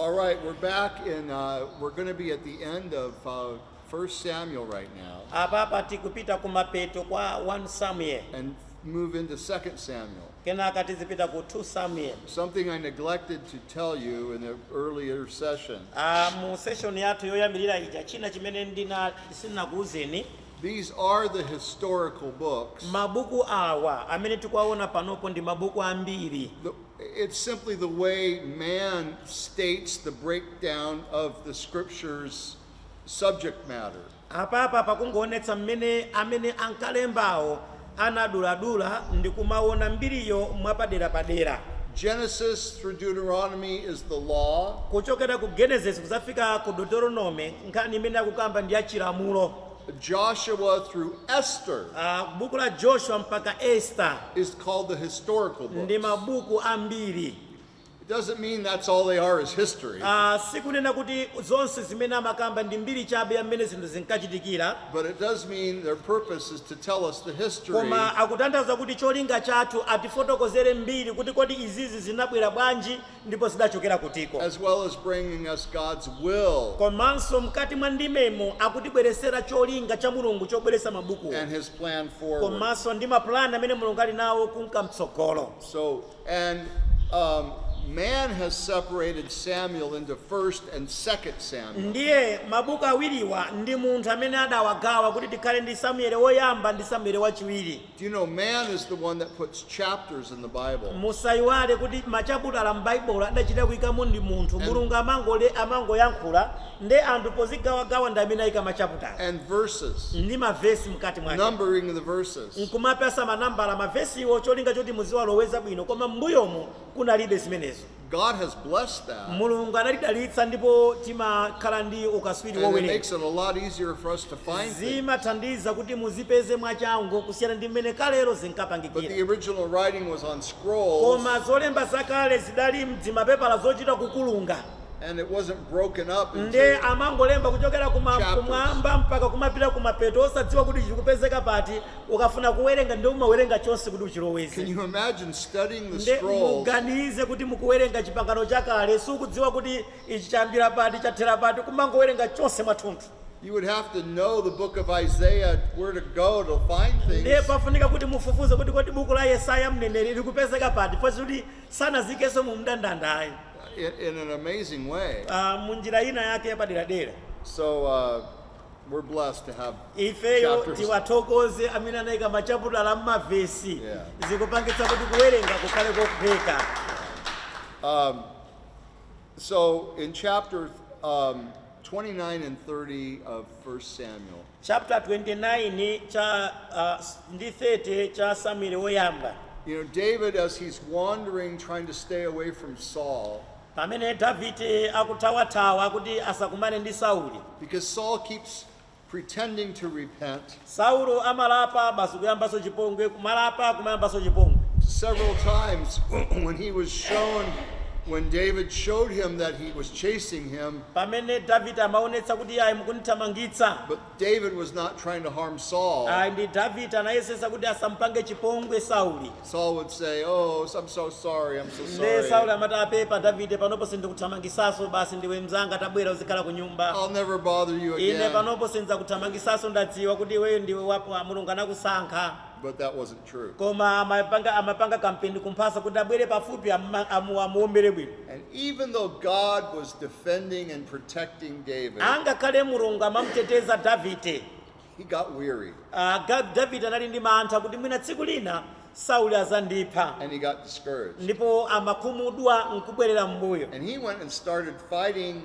All right, we're back and uh, we're going to be at the end of uh, 1 Samuel right now. Apapa tikupita kumapeto kwa 1 Samuel. And move into 2 Samuel. Kenaka tizipita ku 2 Samuel. Something I neglected to tell you in the earlier session. Ah, mu session yathu yoyambirira ija china chimene ndina sinakuuzeni these are the historical books. Mabuku awa amene tikuwaona panopo ndi mabuku a mbiri. The, It's simply the way man states the breakdown of the scripture's subject matter. apapa pakungoonetsa mmene amene ankalembawo anaduladula ndi kumaona mbiriyo mwapaderapadera Genesis through Deuteronomy is the law, kuchokera ku genesis kuzafika ku deuteronome nkhani imene akukamba ndi ya chilamulo Joshua through Esther Ah, buku la joshua mpaka esta is called the historical books. ndi mabuku a mbiri It doesn't mean that's all they are is history, Ah, sikunena kuti zonse zimene amakamba ndi mbiri chabe ya mmene zinthu zinkachitikira but it does mean their purpose is to tell us the history koma akutanthauza kuti cholinga chathu atifotokozere mbiri kuti kodi izizi zinabwera bwanji ndipo zidachokera kutiko. as well as bringing us God's will Komanso mkati mwa ndimemo akutibweretsera cholinga cha Mulungu chobweretsa mabukuwo and his plan forward. komanso ndi mapulani amene Mulungu ali nawo kunka mtsogolo. So, and um, man has separated Samuel into first and second Samuel. Ndiye mabuku awiriwa ndi munthu amene adawagawa kuti tikhale ndi Samueli woyamba ndi Samueli wachiwiri. Do you know man is the one that puts chapters in the Bible? Musaiwale kuti machaputala m'Baibulo adachita kuikamo ndi munthu. And- Mulungu amangole amangoyankhula nde anthu pozigawagawa ndi amene aika machaputala And verses, ndi mavesi mkati mwake numbering the verses. nkumapasa manambala mavesiwo cholinga choti muziwaloweza bwino koma m'mbuyomo kunalibe zimenezo. God has blessed that. Mulungu anatidalitsa ndipo timakhala ndi ukaswiri wowerenga. And it makes it a lot easier for us to find things. Zimathandiza kuti muzipeze mwachangu kusiyana ndi mmene kalero zinkapangikira. But the original writing was on scrolls. Koma zolemba zakale zidali m'zimapepala zochita kukulunga. And it wasn't broken up into Ndiye amangolemba kuchokera kumwamba mpaka kumapita kumapeto osadziwa kuti chikupezeka pati Ukafuna kuwerenga nde umawerenga chonse kuti uchiloweze. Can you imagine studying the Nde scrolls? muganize kuti mukuwerenga chipangano chakale sukudziwa kuti ichi chayambira pati chathera pati kumangowerenga chonse mwathunthu. You would have to know the book of Isaiah where to go to find Nde things. pafunika kuti mufufuze kuti kodi buku la Yesaya mneneri likupezeka pati chifukwa choti sanaziikenso mu mndandanda ayi. in, in an amazing way. Ah, mu njira ina yake yapaderadera. So, uh, We're blessed to have ifeyo chapters. tiwathokoze amene anayika machaputala m'mavesi Yeah. zikupangitsa kuti kuwerenga kukhale kophweka So in chapter um, 29 and 30 of 1 Samuel, chapter 29 cha uh, ndi 30 cha samueli woyamba you know, David, as he's wandering, trying to stay away from Saul, Pamene Davide akuthawathawa kuti asakumane ndi Saulo. Because Saul keeps pretending to repent. Saulo amalapa basi kuyambaso chipongwe kumalapa kumayambaso chipongwe. Several times when he was shown when David showed him that he was chasing him. Pamene Davide amaonetsa kuti ayi mukunithamangitsa. David was not trying to harm Saul. ayi ndi davide anayesesa kuti asampange chipongwe sauli Saul would say, Oh, I'm so sorry, I'm so nde sauli sorry. amati aa pepa davide panopo sindikuthamangisaso basi ndiwe mzanga tabwera uzikhala ku nyumba I'll never bother you ine again. panopo sindidzakuthamangisaso ndadziwa kuti iweyo ndiwe wa mulungu anakusankha But that wasn't True. Koma amapanga kampeni kumphasa kuti abwere pafupi amma- amu- amuombere bwino. And even though God was defending and protecting David, Angakhale Mulungu amamuteteza Davide. he got weary Ah, Ga- Davide anali ndi mantha kuti mwina tsiku lina Sauli azandipha and he got discouraged. ndipo amakhumudwa nkubwerera m'mbuyo. And he went and started fighting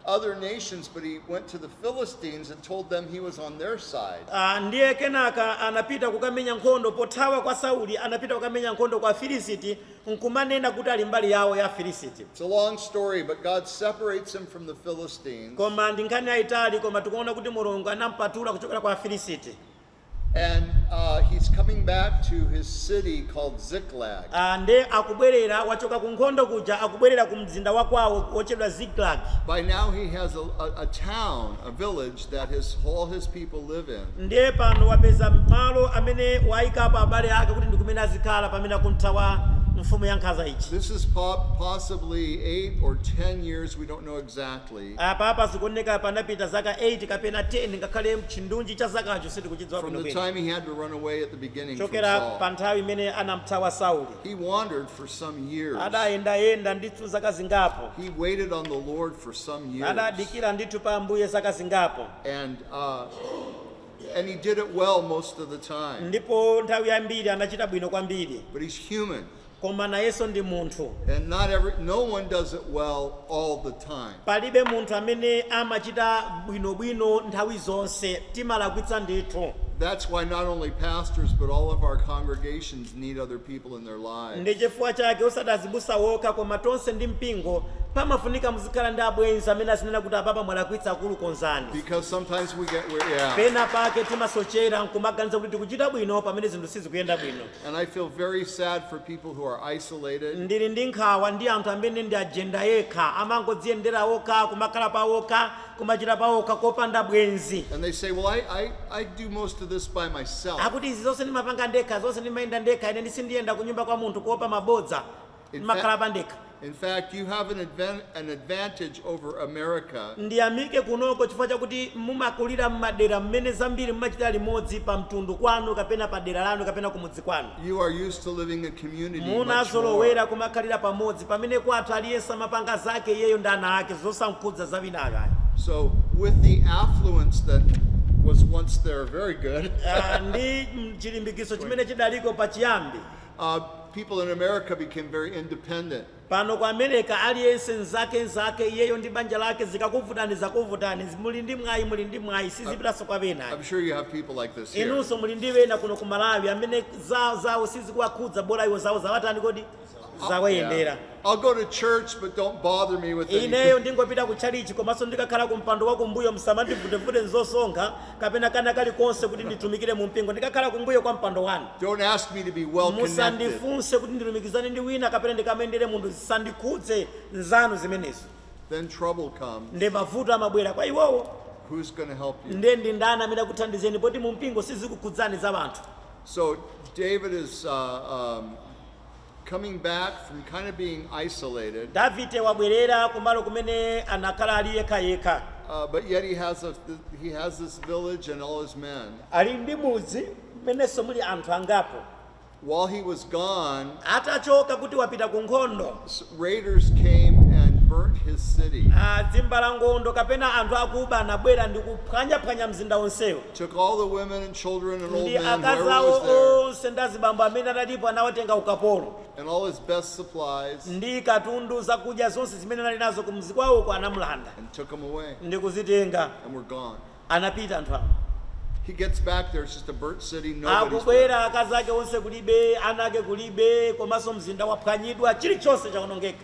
other nations, but he went to the Philistines and told them he was on their side. Ah, ndiye kenaka anapita kukamenya nkhondo pothawa kwa sauli anapita kukamenya nkhondo kwa afilisiti nkumanena kuti ali mbali yawo ya afilisiti It's a long story, but God separates him from the Philistines. koma ndi nkhani yayitali koma tikuona kuti mulungu anampatula kuchokera kwa afilisiti And uh, he's coming back to his city called Ziklag. Ah, nde akubwerera wachoka ku nkhondo kuja akubwerera ku mzinda wa kwawo wochedwa ziklag By now he has a, a, a town, a village that his, all his people live in. ndiye pano wapeza malo amene wayikapo abale ake kuti ndi kumene azikhala pamene akumthawa mfumu ya nkhanza ija This is po- possibly eight or ten years, we don't know exactly. Apapa zikuoneka panapita zaka 8 kapena 10 ngakhale chindunji cha zakacho sitikuchidziwa from the bwinobwino. time he had to run away at the beginning from Kuchokera pa Saul. nthawi imene anamthawa Sauli, He wandered for some years. adayendayenda ndithu zaka zingapo, He waited on the Lord for some years. adadikira ndithu pa Ambuye zaka zingapo, And, uh, and he did it well most of the time. ndipo nthawi yambiri anachita bwino kwambiri. But he's human. Koma nayenso ndi munthu. And not every, no one does it well all the time. Palibe munthu amene amachita bwinobwino nthawi zonse. Timalakwitsa ndithu. That's why not only pastors but all of our congregations need other people in their lives. Ndi chifukwa chake osati azibusa wokha koma tonse ndi mpingo pamafunika muzikhala ndi abwenzi amene azinena kuti apapa mwalakwitsa akulu konzani. Because sometimes we get yeah. Pena pake timasochera nkumaganiza kuti tikuchita bwino pamene zinthu sizikuyenda bwino. And I feel very sad for people who are isolated. ndili ndi nkhawa ndi anthu amene ndi ajenda yekha amangodziyendera okha kumakhala pa okha kumachita pa okha kopanda bwenzi And they say, well, I, I, I do most of this by myself. akuti izi zonse ndimapanga ndekha zonse ndimayenda ndekha ine sindiyenda kunyumba kwa munthu kuopa mabodza Ine ndimakhala pandekha In fact, you have an, advan- an advantage over America ndiyamike kunoko chifukwa chakuti mumakulira m'madera mmene zambiri mumachita limodzi pa mtundu kwanu kapena pa dera lanu kapena kumudzi kwanu You are used to living in community much munazolowera more. kumakhalira pamodzi pamene kwathu aliyense amapanga zake iyeyo ndi ana ake zosankhudza za wina ayi So with the affluence that was once there, very good. Ah, ndi mm, chilimbikitso chimene chidaliko pachiyambi uh, people in America became very independent. pano ku america aliyense n'zake n'zake iyeyo ndi banja lake zikakuvutani zakuvutani muli ndi mwayi muli ndi mwayi sizipitanso kwa I'm wena sure you have people like this here. inunso muli ndi wena kuno ku malawi amene za- zawo sizikuwakhudza bola iwo zawo zawatani kodi zawayendera I'll go to church, but don't bother me with anything. ineyo ndingopita ku tchalichi komanso ndikakhala ku mpando wa kumbuyo musamandivutevute nzosonkha kapena kana kalikonse kuti nditumikire mu mpingo ndikakhala kumbuyo kwa mpando wanu Don't ask me to be well connected. musandifunse kuti ndilumikizane ndi wina kapena ndikamuyendere munthu zisandikhudze n'zanu zimenezo Then trouble comes. nde mavuto amabwera kwa iwowo Who's going to help you? nde ndi ndani amene akuthandizeni poti mu mpingo sizikukhudzani za anthu So David is uh, um, Davide wabwerera kumalo kumene anakhala ali yekhayekha. Ali ndi mudzi mmenenso muli anthu angapo. Atachoka kuti wapita kunkhondo, zimbalangondo kapena anthu akuba anabwera ndi kuphwanyaphwanya mzinda wonsewo. took all the women and children and old ndi men, akazi whoever awo was there, onse ndi azibambo amene analipo anawatenga ukapolo and all his best supplies, ndi katundu zakudya zonse zimene anali nazo kumudzi kwawoko anamulanda and took them away, ndi kuzitenga and were gone. anapita anthu awo He gets back there, it's just a burnt city, nobody's there. akubwera akazi ake onse kulibe ana ake kulibe komanso mzinda waphwanyidwa chilichonse chawonongeka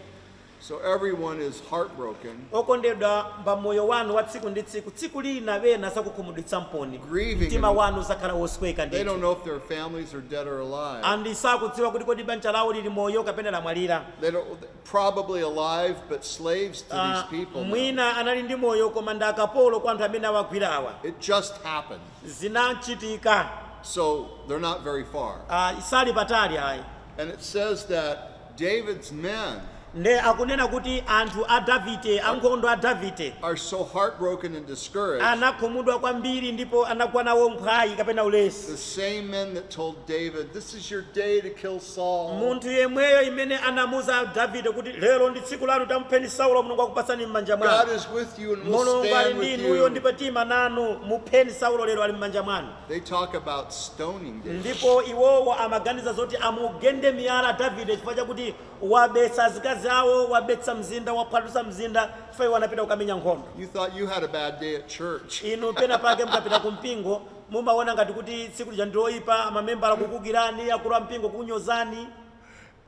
So everyone is heartbroken. okondedwa pa moyo wanu wa tsiku ndi tsiku tsiku lina wina adzakukhumudwitsamponi Grieving mtima and- wanu udzakhala wosweka They don't ndithu know if their families are dead or alive. ndi sakudziwa kuti kodi banja lawo lili moyo kapena lamwalira They don't, probably alive, but slaves to Ah, these people. now. mwina anali ndi moyo koma ndi akapolo kwa anthu amene awagwirawa It just happened. zinachitika So they're not very far. ah, asali patali ayi And it says that David's men nde akunena kuti anthu a Davide, ankhondo a Davide, are so heartbroken and discouraged, anakhumudwa kwambiri ndipo anagwa nawo mphwayi kapena the ulesi same men that told David, This is your day to kill Saul, munthu yemweyo amene anamuuza davide kuti lero ndi tsiku lanu tamupheni saulo mulungu akupatsani m'manja God mwanu is with you and will mulungu ali stand ndi with inuyo you. ndipo tiima nanu mupheni saulo lero ali m'manja mwanu They talk about stoning David. ndipo iwowo amaganiza zoti amugende miyala davide chifukwa chakuti wabetsa azikazi awo wabetsa mzinda waphwasulitsa mzinda chifukwa iwo anapita kukamenya nkhondo You thought you had a bad day at church. inu pena pake mukapita ku mpingo mumaona ngati kuti tsiku lija ndiloyipa mamembala kukuukirani akulu a mpingo kukunyozani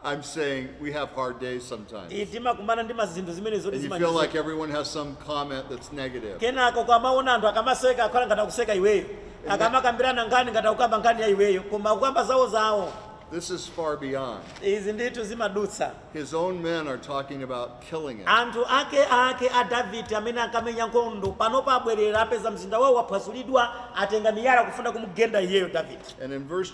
I'm saying we have hard days sometimes. Iye timakumana ndi mazinthu zimene zoti And you feel like zimachitika everyone has some comment that's negative. kenako ukamaona anthu akamaseka kukhala ngati akuseka iweyo akamakambirana nkhani ngati akukamba nkhani ya iweyo koma akukamba zawo zawo This is far beyond. izi ndithu zimadutsa His own men are talking about killing him. anthu ake ake a davide amene ankamenya nkhondo panopa abwerera apeza mzinda wawo waphwasulidwa atenga miyala akufuna kumugenda iyeyo davide And in verse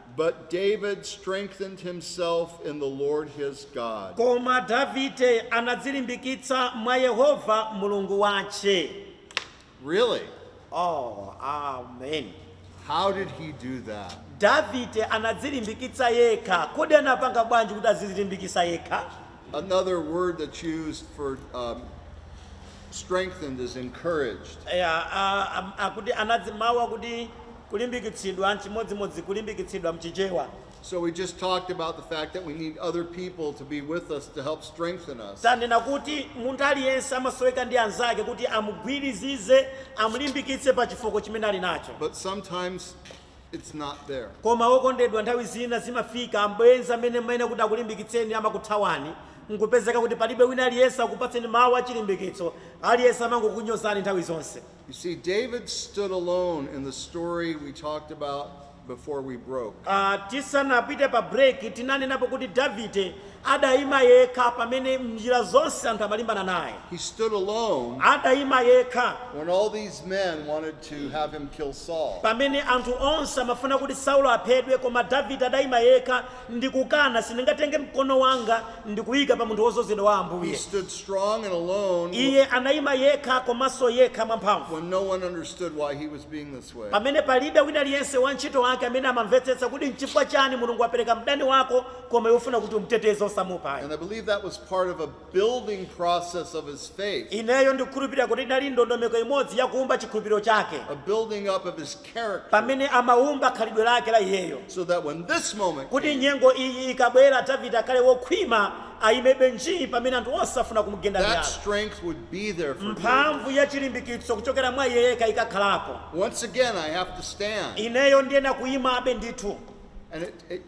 But David strengthened himself in the Lord his God. Koma Davide anadzilimbikitsa mwa Yehova Mulungu wace. Really? Oh, amen. How did he do that? Davide anadzilimbikitsa yekha. Kodi anapanga bwanji kuti azidzilimbikitsa yekha? Another word that's used for um, strengthened is encouraged. Yeah, uh, um, akuti anadzi mawu akuti Kulimbikitsidwa, N'chimodzimodzi kulimbikitsidwa m'Chichewa. So we just talked about the fact that we need other people to be with us to help strengthen us. Tanena kuti munthu aliyense amasoweka ndi anzake kuti amugwirizize, amulimbikitse pa chifooko chimene ali nacho. But sometimes it's not there. Koma wokondedwa nthawi zina zimafika abwenzi amene amayenera kuti akulimbikitseni amakuthawani nkupezeka kuti palibe wina aliyense akupatseni mawu achilimbikitso, aliyense amangokunyozani nthawi zonse. You see, David stood alone in the story we talked about before we broke. Ah, tisanapite pa break tinanenapo kuti davide adayima yekha pamene mnjira zonse anthu amalimbana naye He stood alone adayima yekha when all these men wanted to have him kill Saul. pamene anthu onse amafuna kuti saulo aphedwe koma davide adayima yekha Ndikukana! Sindingatenge mkono wanga ndi kuika pa munthu wodzozedwa wa He Ambuye. stood strong and alone wh- Iye anayima yekha komanso yekha mwamphamvu when no one understood why he was being this way. pamene palibe wina aliyense wa ntchito wake amene amamvetsetsa kuti nchifukwa chani Mulungu apereka mdani wako koma iwe ufuna kuti umteteze osamupha ayi. And I believe that was part of a building process of his faith, ineyo ndikukhulupirira kuti inali ndondomeko imodzi ya kuumba chikhulupiriro chake a building up of his character, pamene amaumba khalidwe lake la iyeyo so that when this moment kuti came, nyengo iyi ikabwera davide akhale wokhwima ayimebe njii pamene anthu onse afuna kumugenda that miyala strength would be there for David. mphamvu ya chilimbikitso kuchokera mwa iye yekha ikakhalepo Once again, I have to stand. ineyo ndiyenera kuyimabe ndithu And it, it,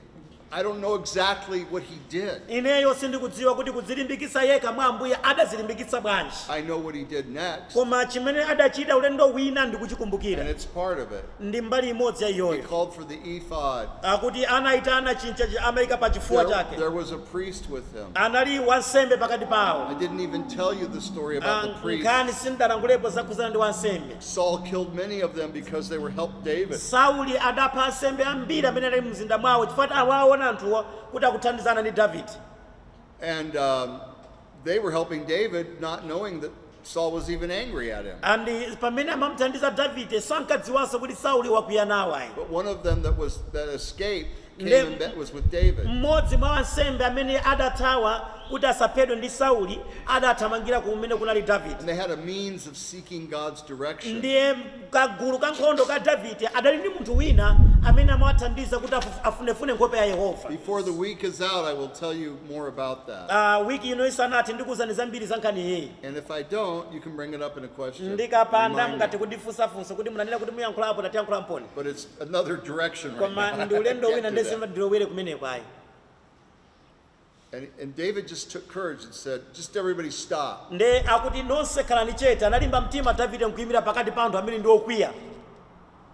I don't know exactly what he did. ineyo sindikudziwa kuti kudzilimbikitsa yekha mwa ambuye adadzilimbikitsa bwanji I know what he did next, koma chimene adachita ulendo wina and ndikuchikumbukira it's part of it. ndi mbali imodzi ya He iyoyo called for the ephod. akuti anayitana chinthu chimene amayika pa chifuwa There, chake there was a priest with him. anali wansembe pakati I pawo didn't even tell you the story about the priest. nkhani sindinalankhulepo zakhudzana ndi wansembe Saul killed many of them because they were helped David. sauli adapha ansembe ambiri amene anali mu mzinda mwawo chifukwa choti amawaona anthuwa kuti akuthandizana ndi davide And um, they were helping David, not knowing that Saul was even angry at him. and pamene amamuthandiza davide sankadziwanso kuti sauli wakwiya nawo ayi But one of them that was that escaped Mmodzi mwa ansembe amene adathawa kuti asaphedwe ndi Sauli adathamangira kumene kunali Davide. Ndiye kagulu kankhondo ka Davide adali ndi munthu wina amene amawathandiza kuti afunefune nkhope ya Yehova. Wiki ino isanathe ndikuuzani zambiri za nkhaniyi. Ndikapanda mungathe kundifunsa funso kuti munanena kuti muyankhulapo tatiyankhulanponi. another direction right koma now. ndi ulendo I can't wina do nde that. sindilowera kumeneko ayi And, and David just took courage and said, just everybody stop. nde akuti nonse khalani chete analimba mtima davide nkuyimira pakati pa anthu amene ndi okwiya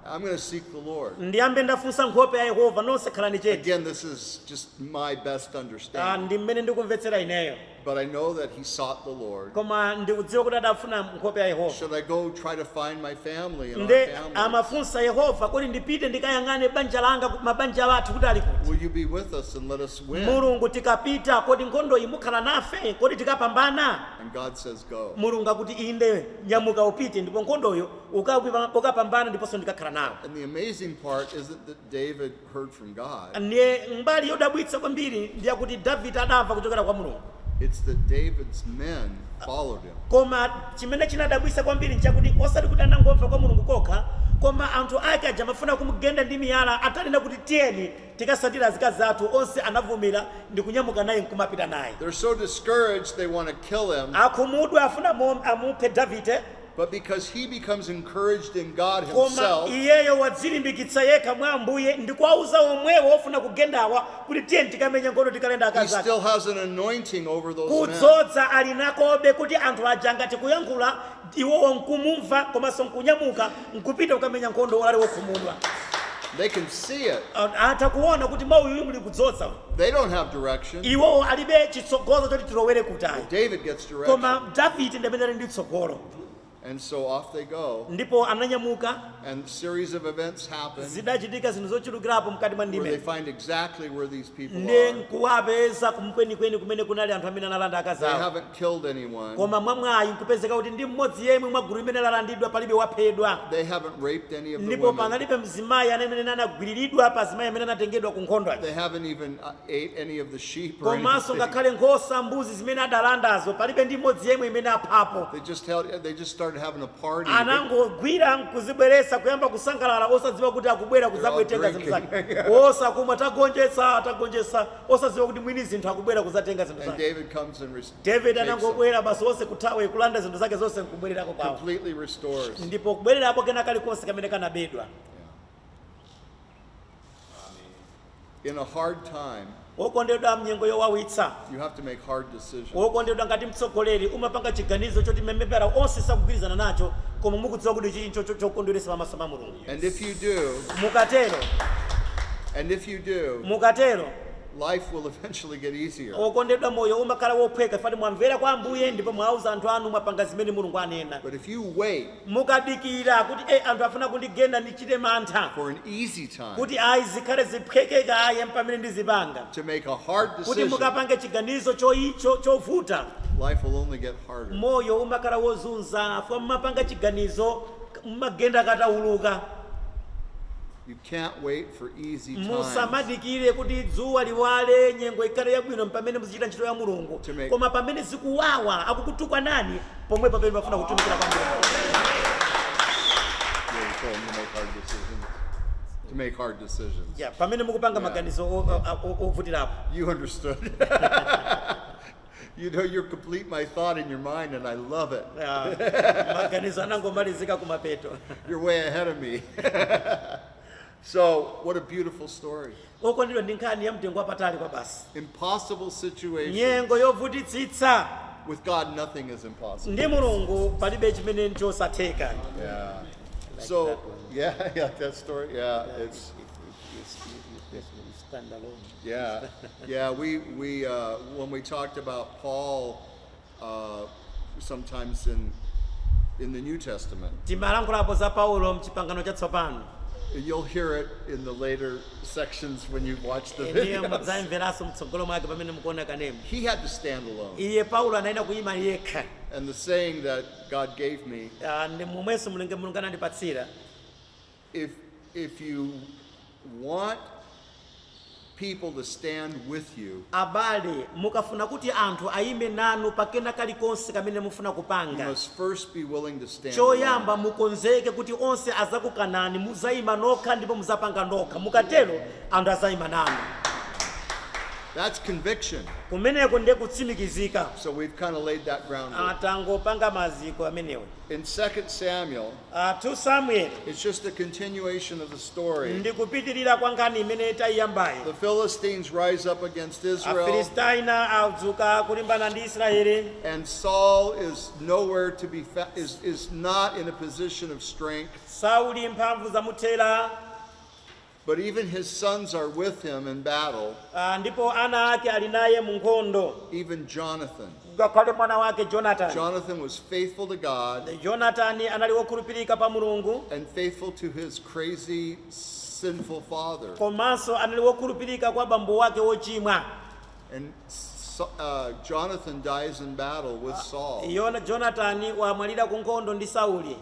I'm going to seek the Lord. ndiyambe ndafunsa nkhope ya yehova nonse khalani chete Again, this is just my best Ah, understanding. ndi mmene ndikumvetsera ineyo But I know that he sought the Lord. koma ndikudziwa kuti adafuna nkhope ya yehova Should I go try to find my family and our nde family? amafunsa yehova kodi ndipite ndikayang'ane banja langa mabanja athu kuti ali kuti Will you be with us and let us win? mulungu tikapita kodi nkhondo iyi mukhala nafe kodi tikapambana And God says, Go. mulungu akuti inde nyamuka upite ndipo nkhondoyo ukapambana ndiponso ndikakhala nawe And the amazing part isn't that David Ndiye mbali yodabwitsa kwambiri ndi yakuti Davide adamva kuchokera kwa Mulungu. Koma chimene chinadabwitsa kwambiri nchakuti osati kuti anangomva kwa Mulungu kokha, koma anthu ake aja amafuna kumgenda ndi miyala atanena kuti, Tiyeni, tikatsatire azikazi athu, onse anavomera ndi kunyamuka naye nkumapita naye. Akhumudwa, afuna amuphe Davide. but because he becomes encouraged in God koma himself iyeyo wadzilimbikitsa yekha mwa ambuye ndi kuwauza omwewo ofuna kugendawa kuti tiyeni tikamenye nkhondo tikalande he akazi ake still has an anointing over those men. kudzoza ali nakobe kuti anthu aja ngati kuyankhula iwowo nkumumva komanso nkunyamuka nkupita kukamenya nkhondo ali wokhumudwa They can see it. A- atha kuona kuti mwa uyuyu muli kudzoza They don't have direction. iwowo alibe chitsogozo choti tilowere kutali David gets koma David ndi amene ali ndi tsogolo And so off they go. ndipo ananyamuka And a series of events happen zidachitika zinthu zochulukirapo mkati mwa where they ndime find exactly where these people ndi are. nkuwapeza kwenikweni kumene kunali anthu amene analanda akazi They awo haven't killed anyone. koma mwamwayi nkupezeka kuti ndi mmodzi yemwe mwa gulu limene lalandidwa palibe waphedwa They haven't raped any of the ndipo women. panalibe mzimayi amene anagwiriridwa pa azimayi amene anatengedwa ku nkhondo aja. They haven't even uh, ate any of the sheep or any- komanso thing. ngakhale nkhosa mbuzi zimene adalandazo palibe ndi imodzi yemwe imene aphapo They just held, they just started having a party. They- anangogwira nkuzibweretsa kuyamba kusangalala osadziwa kuti akubwera kudzatenga zinthu zake drinking. basi akumwa tagonjetsa tagonjetsa osadziwa kuti mwini zinthu akubwera kudzatenga zinthu And zake David comes and res- david takes them, anangobwera basi onse kuthawa kulanda zinthu zake zonse nkubwererako kwawo completely restores. ndipo kubwererapo kena kalikonse kamene kanabedwa In a hard time, wokondedwa mnyengo yowawitsa you have to make hard decisions. wokondedwa ngati mtsogoleri umapanga chiganizo choti mamembala onse sakugwirizana nacho koma mukudziwa kuti ichi n'chinthu chokondweretsa pamaso pa mulungu And if you do, mukatero and if you do, mukatero life will eventually get easier. okondedwa moyo umakhala wophweka chifukwa mwamvera kwa ambuye ndipo mwauza anthu anu mwapanga zimene mulungu anena But if you wait, mukadikira kuti eh anthu afuna kundigenda ndichite mantha for an easy time kuti ayi zikhale ziphweke kaye mpamene ndizipanga to make a hard kuti decision, mukapange chiganizo choi- cho- chovuta life will only get harder. moyo umakhala wozunza chifukwa mumapanga chiganizo mumagenda katawuluka Can't wait for easy times. Musamadikire kuti dzuwa liwale, nyengo ikhale yabwino mpamene muzichita ntchito ya Mulungu. To make- Koma pamene zikuwawa, akukutukwanani, pomwepo pamene pafunika kutumikira kwa Mulungu. Yeah, you told them to make hard decisions. To make hard decisions. Yeah, pamene mukupanga maganizo o- o- o- ovutirapo. You understood. You know, you complete my thought in your mind, and I love it. Ah, maganizo anangomalizika kumapeto You're way ahead of me. so, what a beautiful story. okondedwa ndi nkhani ya mtengo wapatali kwabasi Impossible situation. nyengo yovutitsitsa With God, nothing is impossible. ndi mulungu palibe chimene nchosatheka Yeah. So, yeah, yeah, that story. Yeah, it's. Yeah, yeah. We we uh, when we talked about Paul, uh, sometimes in in the New Testament, timalankhulapo za paulo mchipangano chatsopano you'll hear it in the later sections when you watch the ndiye videos. mudzayimveranso mtsogolo mwake pamene mukuona kanema He had to stand alone, iye paulo anayenera kuyima yekha and the saying that God gave me Ah, ndi momwenso mulungu mulungu anandipatsira If, if you want people to stand with you, abale mukafuna kuti anthu ayime nanu pa kena kalikonse kamene mufuna kupanga you must first be willing to stand alone. choyamba mukonzeke kuti onse azakukanani muzayima nokha ndipo muzapanga nokha mukatero anthu azayima nanu That's conviction. kumeneko ndiye kutsimikizika So we've kind of laid that groundwork. tangopanga maziko amenewo In 2 Samuel, Ah, 2 Samueli It's just a continuation of the story. ndi kupitirira kwa nkhani imene taiyambayo. The Philistines rise up against Israel, Afilistaina adzuka kulimbana ndi Israeli. and Saul is nowhere to be fa- is is not in a position of strength. Sauli mphamvu zamuthera. But even his sons are with him in battle. Ah, ndipo ana ake ali naye mu nkhondo. Even Jonathan. Ngakhale mwana wake Jonathan. Jonathan was faithful to God. Jonathan anali wokhulupirika pa Mulungu. And faithful to his crazy sinful father. Komanso anali wokhulupirika kwa bambo wake wochimwa. And uh, Jonathan dies in battle with ah, Saul. Jonathan wamwalira ku nkhondo ndi Sauli.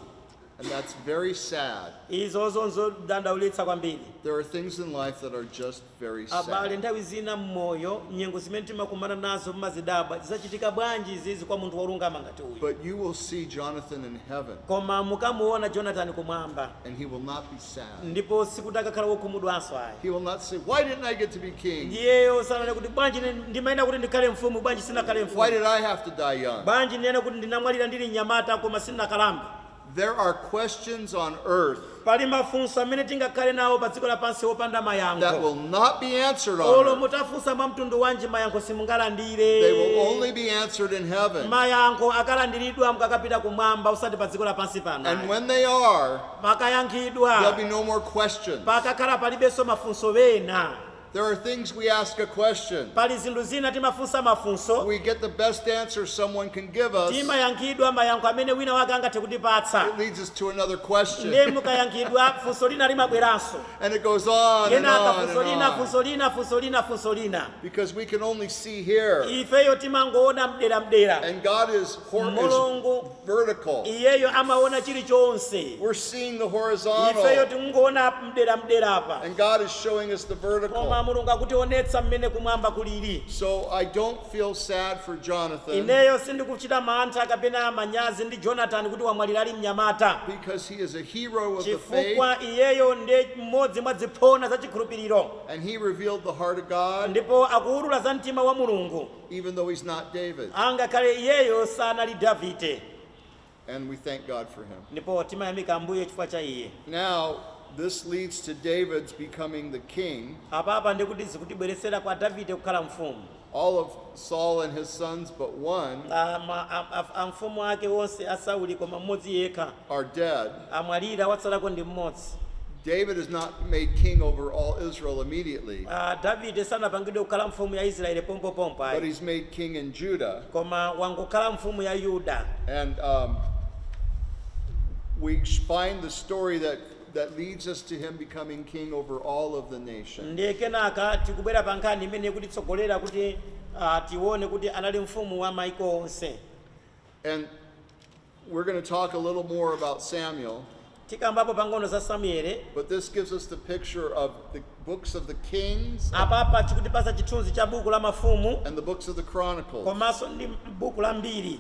And that's very sad. izo nzodandaulitsa kwambiri There are things in life that are just very abale sad. nthawi zina mmoyo nyengo zimene timakumana nazo mmazidabwa zikuchitika bwanji izizi kwa munthu wolungama ngati uyu But you will see Jonathan in heaven, koma mukamuona jonatani kumwamba and he will not be sad. ndipo sikuti akakhala wokhumudwanso ayi He will not say, Why didn't I get to be king? iyeyo sanene kuti bwanji ndimayenera kuti ndikhale mfumu bwanji sinakhale Why mfumu did I have to die young? bwanji ndinene kuti ndinamwalira ndili mnyamata koma sindinakalambe There are questions on earth pali mafunso amene tingakhale nawo pa dziko lapansi wopanda that mayankho will not be answered on olo earth. mutafunsa mwa mtundu wanji mayankho They will simungalandire only be answered in heaven. mayankho akalandiridwa mukakapita kumwamba osati pa dziko lapansi And pano when they are, makayankhidwa, there'll be no more questions. pakakhala palibenso mafunso ena. There are things we ask a question. pali zinthu zina timafunsa mafunso We get the best answer someone can give us. timayankhidwa mayankho amene wina wake angathe kutipatsa It leads us to another ndiye question. mukayankhidwa funso lina limabweranso And it goes on and kenaka on funso and lina on. funso lina funso lina funso lina Because we can only see here. ifeyo timangoona mdera mdera And God is, hor- is mulungu vertical. iyeyo amaona chilichonse We're seeing the ifeyo horizontal, tikungoona mdera mdera apa and God is showing us the koma vertical. mulungu akutionetsa mmene kumwamba kulili So I don't feel sad for Jonathan ineyo sindikuchita mantha kapena manyazi ndi jonatani kuti wamwalira ali mnyamata because he is a hero of the faith, chifukwa iyeyo ndi mmodzi mwa ziphona za chikhulupiriro and he revealed the heart of God. ndipo akuwulula za mtima wa mulungu even though he's not David. angakhale iyeyo sanali davide And we thank God for him. ndipo timayamika ambuye chifukwa cha iye Now, this leads to David's becoming the king. apapa ndikuti zikutibweretsera kwa davide kukhala mfumu All of Saul and his sons but one Ah, ma- a- a- amfumu ake onse a sauli koma mmodzi yekha are dead. amwalira watsalako ndi mmodzi David is not made king over all Israel immediately, Ah, davide sanapangidwe kukhala mfumu ya israeli pompopompo but ayi he's made king in Judah. koma wangokhala mfumu ya yuda And um, we find the story that, that leads us to him becoming king over all of the nation. ndiye kenaka tikubwera pa nkhani imene ikutitsogolera kuti ah, tione kuti anali mfumu wa maiko onse And we're going to talk a little more about Samuel. tikambapo pang'ono za samueli But this gives us the picture of the books of the Kings apapa chikutipasa chithunzi cha buku la mafumu and the books of the Chronicles. komanso ndi buku la mbiri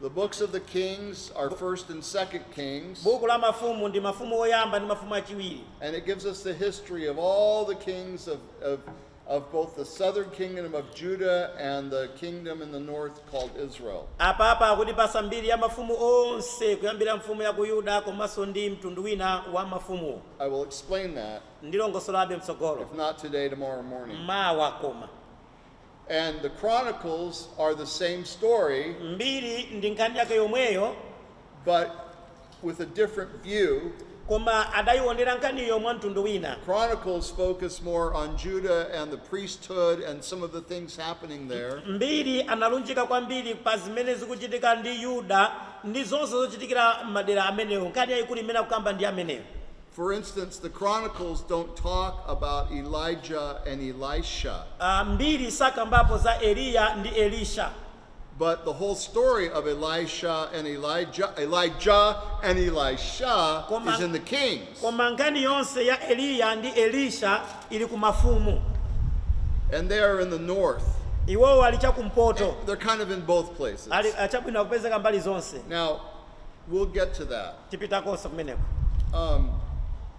The books of the Kings are First and Second Kings, buku la mafumu ndi mafumu oyamba ndi mafumu achiwiri and it gives us the history of all the kings of, of of both the southern kingdom of Judah and the kingdom in the north called Israel. apapa akutipasa mbiri ya mafumu onse kuyambira mfumu ya ku yuda komanso ndi mtundu wina wa mafumuwo I will explain that, ndilongosolabe if mtsogolo not today, tomorrow morning. mawa koma And the Chronicles are the same story, mbiri ndi nkhani yake yomweyo but with a different view. koma adayiwonera nkhaniyo mwa mtundu wina Chronicles focus more on Judah and the priesthood and some of the things happening there. mbiri analunjika kwambiri pa zimene zikuchitika ndi yuda ndi zonse zochitikira madera amenewo nkhani yayikulu imene akukamba ndi amenewo For instance, the Chronicles don't talk about Elijah and Elisha. Ah, mbiri sakambapo za eliya ndi elisha But the whole story of Elisha and Elijah, Elijah and Elisha Koma- is in the Kings. koma nkhani yonse ya eliya ndi elisha ili ku mafumu And they are in the north. iwowo ali chakumpoto They're kind of in both places. ali ah, chabwino akupezeka mbali zonse Now, We'll get to that. tipitakonso kumeneko Um,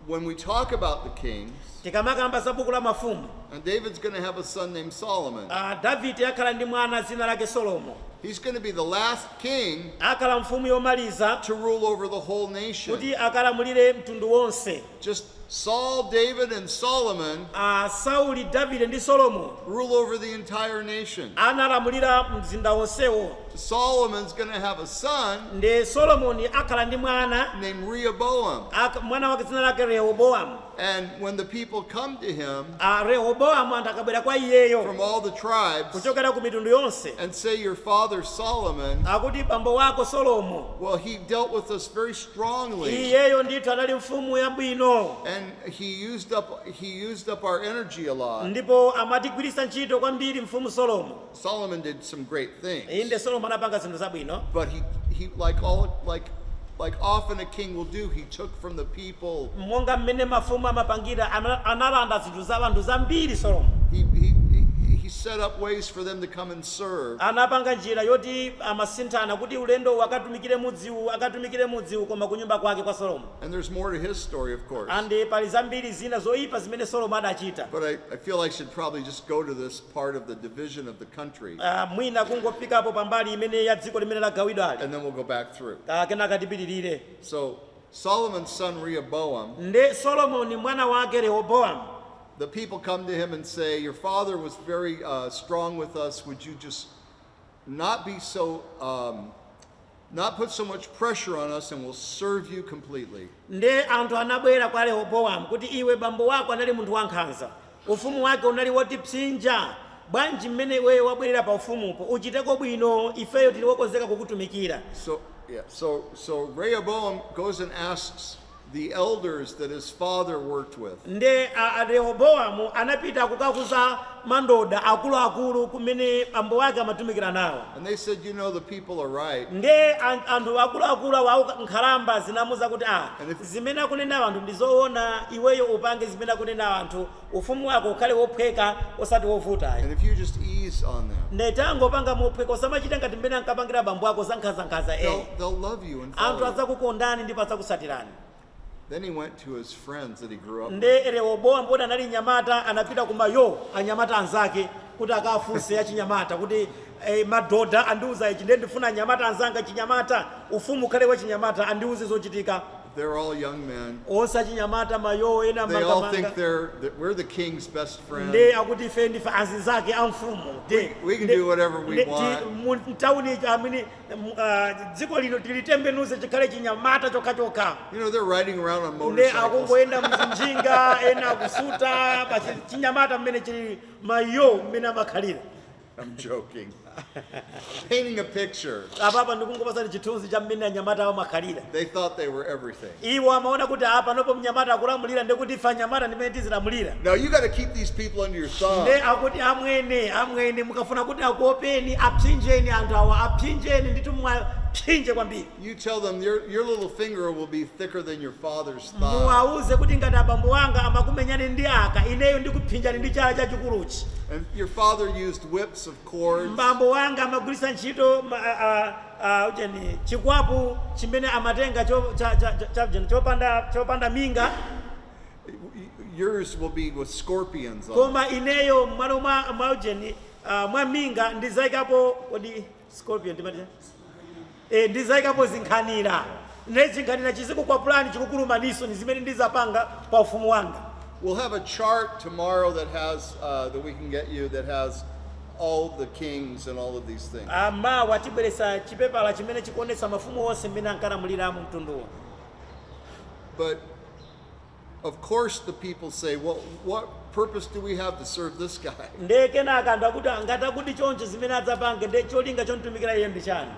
when we talk about the kings, tikamakamba za buku la mafumu and David's going to have a son named Solomon. ah, davide akhala ndi mwana dzina lake solomo He's going to be the last king akhala mfumu yomaliza to rule over the whole nation. kuti akalamulire mtundu wonse Just Saul, David, and Solomon a sauli davide ndi solomo rule over the entire nation. analamulira mzinda wonsewo Solomon's going to have a son nde solomoni akhala ndi mwana named Rehoboam. ak- mwana wake dzina lake rehobowamu And when the people come to him a rehobowamu anthu akabwera kwa iyeyo from all the tribes kuchokera ku mitundu yonse and say, Your father Solomon, akuti bambo wako solomo well, he dealt with us very strongly. iyeyo ndithu anali mfumu yabwino And he used up he used up our energy a lot. ndipo amatigwiritsa ntchito kwambiri mfumu solomo Solomon did some great inde things. solomo anapanga zinthu zabwino But he he like all like like often a king will do, he took from the people. monga mmene mafumu amapangira ana- analanda zinthu za anthu zambiri solomo He he he- he set up ways for them to come and serve. anapanga njira yoti azisinthana kuti ulendo uno akatumikire mu mudzi uwu akatumikire mudzi uwu koma kunyumba kwake kwa Solomo. And there's more to his story, of course. Ande pali zambiri zina zoipa zimene Solomo adachita. But I, I feel I should probably just go to this part of the division of the country. Uh, mwina kungofikapo pambali imene ya dziko limene lagawidwali. And then we'll go back through. Uh, kenaka tipitirire. So Solomon's son Rehoboam. Nde Solomoni mwana wake Rehoboam. The people come to him and say, Your father was very uh, strong with us. Would you just not be so, um, not put so much pressure on us, and we'll serve you completely. nde anthu anabwera kwa rehobowamu kuti iwe bambo wako anali munthu wankhanza ufumu wake unali wotipsinja bwanji mmene iweyo wabwerera pa ufumupo uchiteko bwino ifeyo tili wokonzeka kukutumikira So, yeah, so, so Rehoboam goes and asks the elders that his father worked with. nde a- a- rehobowamu anapita kukakuza mandoda akuluakulu amene bambo wake amatumikira nawo And they said, You know, the people are right. nde an- anthu akuluakulu awo auka- nkhalamba zinamuza kuti a And if- zimene akunena anthu ndi zoona iweyo upange zimene akunena anthu Ufumu wako ukhale wophweka osati wovuta ayi. And if you just ease on them. Nde tangopanga mophweka osamachita ngati mmene ankapangira bambo ako za nkhanza nkhanza eh. They'll, they'll love you and follow Anthu you. adzakukondani ndipo adzakusatirani. Then he went to his friends that he grew up with. Nde Rehoboam poti anali nyamata anapita kuma yo anyamata anzake kuti akafunse ya chinyamata kuti eh, madoda andiuza ichi nde ndifuna anyamata anzanga chinyamata ufumu ukhale wa chinyamata andiuze zochita. They're all young men. onse achinyamata mayowo ena They all think mangamanga we're the king's best friends. nde akuti ife ndife azinzake a mfumu nde- We can nde- do whatever we nde- ti- want. mu- mtauni ija amene mu- ah, dziko lino tilitembenuze chikhale chinyamata chokhachokha You know, they're riding around on nde motorcycles. akungoyenda mzinjinga ena akusuta basi chinyamata mmene chili mayo mmene amakhalira I'm joking. Painting a picture. apapa ndikungopasani chithunzi cha mmene anyamata amakhalira They thought they were everything. iwo amaona kuti apanopo mnyamata akulamulira ndikuti ife anyamata ndimene tizilamulira Now you got to keep these people under your thumb. nde akuti amwene amwene mukafuna kuti akuopeni apsinjeni anthu awa apsinjeni nditu mwapsinje kwambiri You tell them your, your little finger will be thicker than your father's thigh. muwauze kuti ngati abambo anga amakumenyani ndi aka ineyo ndikuphinjani ndi chala chachikuluchi And your father used whips of cords. bambo wanga amagwiritsa ntchito ma- a- a- a- ujeni chikwapu chimene amatenga cho- cha- cha- cha- cha- ujeni, chopanda chopanda minga Yours will be with scorpions on it. koma ineyo mmalo mwa mwa ujeni ah, mwa minga ndizayikapo kodi scorpion timati chani? e, ndizaikapo zinkhanira nde chinkhanira chizikukwapulani chikukulumaniso ndi zimene ndizapanga pa ufumu wanga We'll have a chart tomorrow that has, uh, that we can get you, that has all the kings and all of these things. mawa tibweresa chipepala chimene chikuonesa mafumu onse mmene ankalamulira mu mtunduwo But Of course, the people say, well, what purpose do we have to serve this guy? nde kenaka anthu akuti ngati akuti choncho zimene adzapange nde cholinga chomtumikira iye ndi chani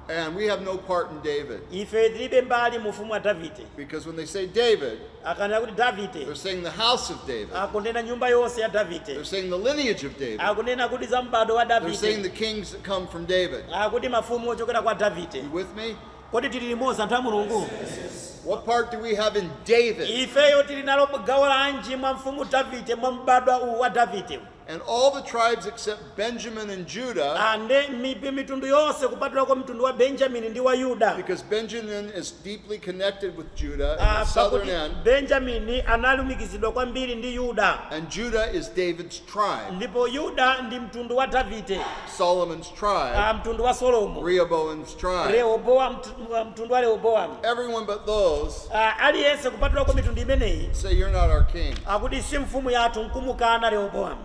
And we have no part in David. ife tilibe mbali mu ufumu wa davide Because when they say David, akanena kuti davide they're saying the house of David. akunena nyumba yonse ya They're davide saying the lineage of David. akunena kuti za m'bado wa They're saying the davide kings that come from David. akuti mafumu ochokera kwa davide You with me? Kodi tili limodzi anthu a Mulungu? What part do we have in David? Ifeyo tili nalo gawo lanji mwa mfumu Davide mwa m'badwa uwu wa Davide? And all the tribes except Benjamin and Judah. And mi- mi- mitundu yonse kupatulako mtundu wa Benjamin ndi wa Yuda. Because Benjamin is deeply connected with Judah in the ah, southern end. Benjamin analumikizidwa kwambiri ndi Yuda. And Judah is David's tribe. Ndipo Yuda ndi mtundu wa Davide. Solomon's tribe, ah, mtundu wa Solomo, Rehoboam's tribe, Rehoboam, mtu- mtundu wa Rehoboam, everyone but those Ah, aliyense kupatulako mitundu imeneyi say you're not our king. akuti si mfumu yathu nkumukana Rehoboam.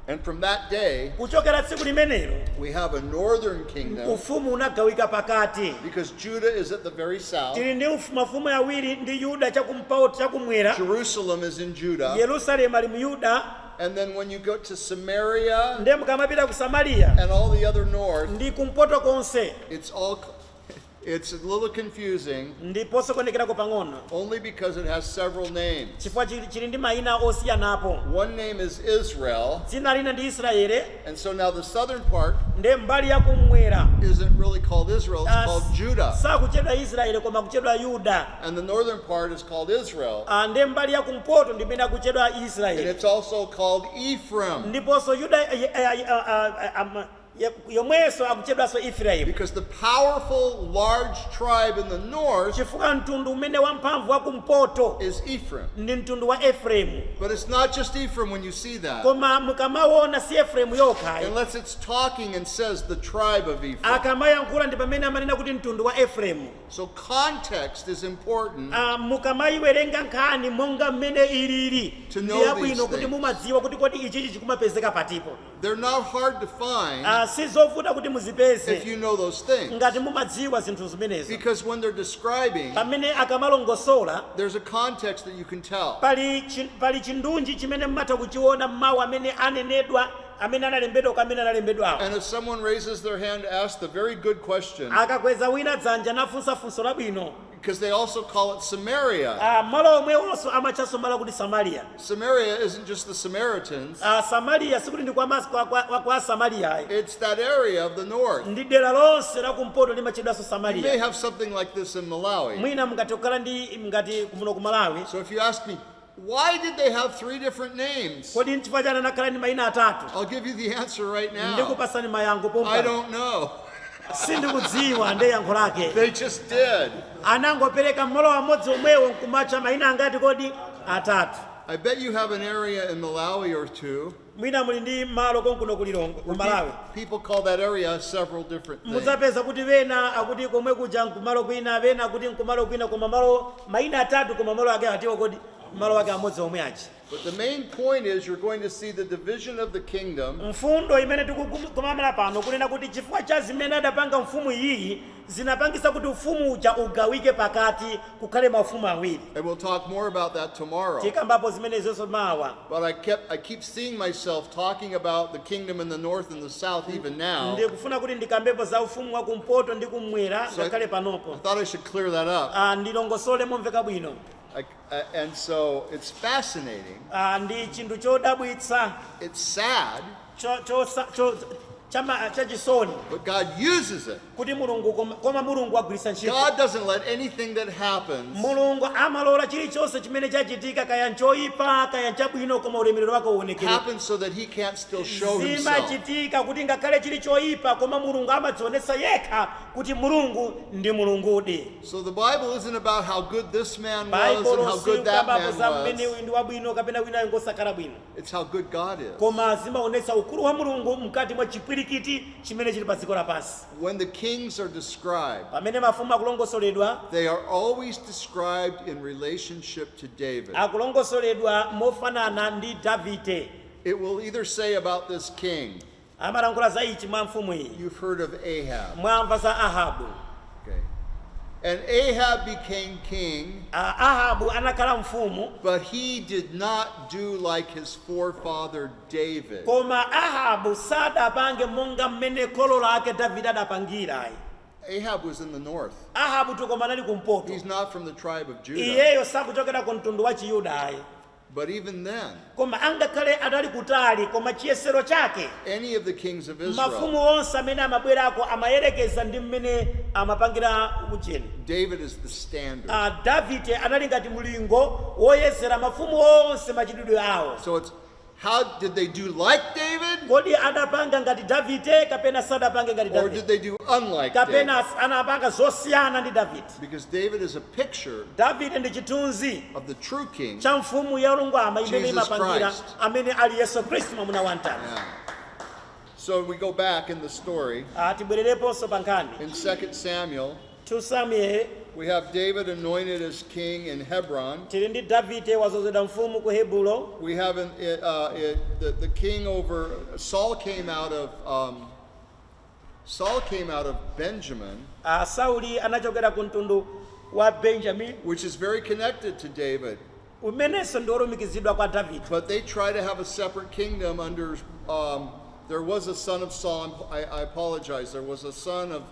And from that day, Kuchokera tsiku limenelo we have a northern kingdom ufumu unagawika pakati. because Judah is at the very south. Tili ndi ufu- mafumu awiri ndi Yuda chakumpoto chakumwera, Jerusalem is in Judah. Yerusalemu ali mu Yuda, And then when you go to Samaria ndiye mukamapita ku samariya and all the other north, ndi kumpoto konse it's all it's a little confusing ndi posokonezerako pang'ono only because it has several names. chifukwa chili chili ndi mayina osiyanapo One name is Israel, dzina lina ndi israeli And so now the southern part nde mbali yakumwera isn't really called Israel, it's called Judah. sakutchedwa israeli koma kutchedwa yuda And the northern part is called Israel. Ah, nde mbali yakumpoto ndi imene akutchedwa And israeli it's also called Ephraim ndiponso yuda eh, eh, eh, ah, ah, ah, ah, ye- yomwenso akutchedwanso efraimu because the powerful, large tribe in the north chifukwa mtundu umene wamphamvu wakumpoto is Ephraim. ndi mtundu wa efraimu But it's not just Ephraim when you see that. koma mukamaona si efraimu yokha ayi Unless it's talking and says the tribe of Ephraim. akamayankhula ndi pamene amanena kuti mtundu wa efraimu So context is important. Ah, mukamayiwerenga nkhani monga mmene ilili To know ndi yabwino these kuti things. mumadziwa kuti kodi ichichi chikumapezeka patipo They're not hard to find Ah, si zovuta kuti if muzipeze you know those things. ngati mumadziwa zinthu zimenezo Because when they're describing, pamene akamalongosola there's a context that that you can tell. Pali, chi, pali chindunji chimene mmatha kuchiona mmawu amene anenedwa amene analembedwa kwa amene analembedwawo. And if someone raises their hand to ask the very good question, Akakweza wina dzanja nafunsa funso labwino. because they also call it Samaria. Ah, malo omwewonso amatchanso malo kuti Samaria. Samaria isn't just the Samaritans, Ah, Samaria sikuti ndi kwa mas- kwa- kwa- kwa- kwa Samaria ayi. it's that area of the north. Ndi dera lonse la kumpoto limatchedwanso You may Samaria. have something like this in Malawi. Mwina mungathe kukhala ndi ngati kumuno ku malawi So if you ask me, why did they have three different names? kodi nchifukwa chani anakhala ndi mayina atatu I'll give you the answer right now. ndikupasani mayankho I pompa don't know. sindikudziwa ndi yankho lake They just did. anangopereka mmalo amodzi omwewo nkumatcha mayina angati kodi atatu I bet you have an area in Malawi or two Mwina muli ndi malo konkuno ku Lilongwe, ku Malawi. Mudzapeza kuti wena akuti komwe kuja nkumalo kwina, wena akuti nkumalo kwina koma malo, maina atatu koma malo ake atiwo kodi? Malo ake amodzi omwe aja. Mfundo imene tikukumanira pano kunena kuti chifukwa cha zimene adapanga mfumu iyiyi zinapangitsa kuti ufumu uja ugawike pakati kukhale maufumu awiri. And we'll talk more about that tomorrow. Tikambapo zimenezonso mawa. But I kept I keep seeing myself talking about the kingdom in the north and the south even now. Ndikufuna kuti ndikambepo za ufumu wa kumpoto ndi kumwera ngakhale panopo. I thought I should clear that up. Ah ndilongosole momveka bwino. I, uh, and so it's fascinating. Ah ndi chinthu chodabwitsa. It's sad. cho- cho- sa- cho- chama- chachisoni But God uses it. kuti mulungu koma- koma mulungu agwiritsa ntchito God doesn't let anything that happens mulungu amalola chilichonse chimene chachitika kaya nchoyipa kaya nchabwino koma ulemerero wake uonekere happen so that he can't still show himself. zimachitika kuti ngakhale chili choyipa koma mulungu amadzionetsa yekha kuti mulungu ndi mulungudi So the Bible isn't about how good this man was and how baibulo good that silikukamba man za mmene was. uyu ndi wabwino kapena winayo ngosakhala bwino It's how good God is. koma zimaonetsa ukulu wa mulungu mkati mwa chipwirikiti chimene chili pa dziko lapansi When the kings are described, pamene mafumu akulongosoledwa they are always described in relationship to David. akulongosoledwa mofanana ndi davide It will either say about this king, amalankhula za ichi mwa mfumu iyi, You've heard of Ahab. mwamva za Ahabu. Okay. And Ahab became king, A- Ahabu anakhala mfumu, but he did not do like his forefather David. koma Ahabu sadapange monga mmene kholo lake Davide adapangira. ayi. Ahab was in the north. Ahabu tukoma anali kumpoto, He's not from the tribe of Judah. iyeyo sakuchokera ku mtundu wa Chiyuda. ayi. But even then, koma angakhale anali kutali koma chiyesero chake any of the kings of Israel, mafumu onse amene amabwerako amayerekeza ndi mmene amapangira ujeni David is the standard. davide anali ngati mlingo woyezera mafumu onse machitidwe awo So it's how did they do like David kodi adapanga ngati davide kapena sadapange ngati or davide did they do unlike David? kapena anapanga zosiyana ndi davide Because David is a picture davide ndi chithunzi of the true king. cha mfumu yolungama imene Jesus imapangira Christ. amene ali yesu khristu mwamuna wa mtanda Yeah. So we go back in the story. Ah, tibwerereponso pa nkhani In 2 Samuel, 2 samuel we have David anointed as king in Hebron. tili ndi davide wazozedwa mfumu ku hebulo We have an, it, uh, it, the, the king over, Saul came out of um, Saul came out of Benjamin, Ah, sauli anachokera ku mtundu wa benjamini which is very connected to David, umenenso ndi olumikizidwa kwa davide but they try to have a separate kingdom under. Um, there was a son of Saul. I, I apologize. There was a son of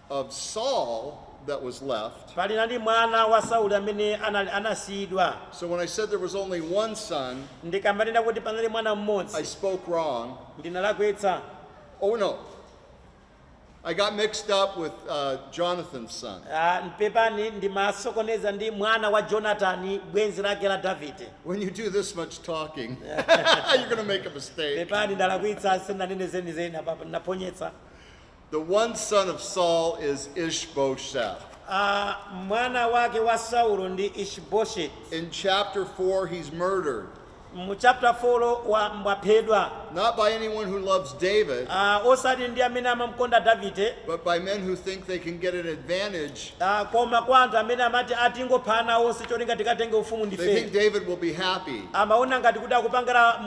of Saul that was left. panali mwana wa sauli amene anali- anasiyidwa So when I said there was only one son, ndikamanena kuti panali mwana I mmodzi spoke wrong. ndinalakwitsa Oh no. I got mixed up with uh, Jonathan's son. Ah, pepani ndimasokoneza ndi mwana wa jonatani bwenzi lake la davide When you do this much talking, you're going to make a mistake. pepani ndalakwitsa sinanene zenizeni apapa ndinaphonyetsa The one son of Saul is Ishbosheth. Ah, mwana wake wa saulo ndi ishibosheti In chapter 4, he's murdered. Mu chapter 4 wa- waphedwa. Not by anyone who loves David. Ah, osati ndi amene amamkonda Davide. But by men who think they can get an advantage. Ah, koma kwa anthu amene amati atingopha ana onse cholinga tikatenge ufumu ndife. They think David will be happy. Amaona ngati kuti akupangira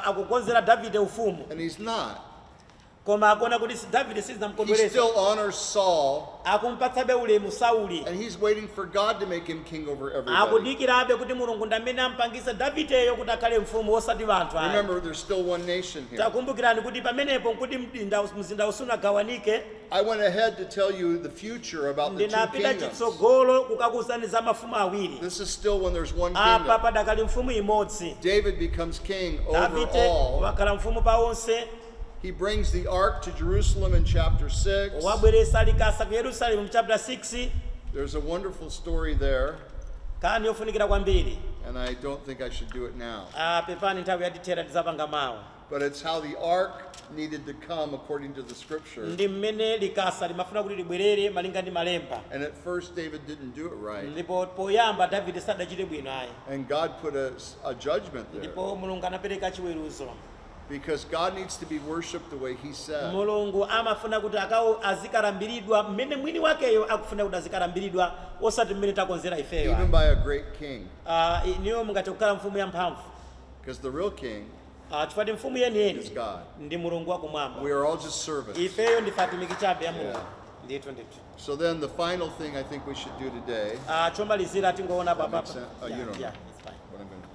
akukonzera Davide ufumu. And he's not. Koma akuona kuti si- Davide He sizinamukondweretse. still honors Saul, Akumpatsabe ulemu Sauli. and he's waiting for God to make him king over everybody. Akudikirabe kuti Mulungu ndi amene ampangitsa Davideyo kuti akhale mfumu osati anthu ayi. Remember, there's still one nation here. Takumbukirani kuti pamenepo nkuti mzinda mzinda usunagawanike I went ahead to tell you the future about the two ndinapita kingdoms. chitsogolo kukakuuzani za mafumu awiri. This is still when there's one Apa kingdom. padakali mfumu imodzi. David becomes king over Davide all. wakhala mfumu pa onse. He brings the ark to Jerusalem in chapter 6. wabweresa likasa ku yerusalemu mu chapter 6 There's a wonderful story there, nkhani yofunikira kwambiri and I don't think I should do it now. Ah, pepani nthawi yatithera tidzapanga mawa But it's how the ark needed to come according to the scripture. ndi mmene likasa limafuna kuti libwerere malinga ndi malemba And at first, David didn't do it right. ndipo poyamba davide sadachite bwino ayi And God put a, a judgment there. ndipo mulungu anapereka chiweruzo Because God needs to be worshiped the way he said. mulungu amafuna kuti azikalambiridwa mmene mwini wakeyo akufuna kuti azikalambiridwa osati mmene takonzera ifeyo Even ayi. by a great king. Ah, inuyo mungathe kukhala mfumu yamphamvu Because the real king Ah, chifukwa choti mfumu is yeniyeni God. ndi mulungu wakumwamba We are all just servants. ifeyo ndife atumiki chabe ya mulungu ndithu ndithu So then the final thing I think we should do today, Ah, chomalizira tingoona That makes apapa sense. Oh, you don't know. What I'm gonna-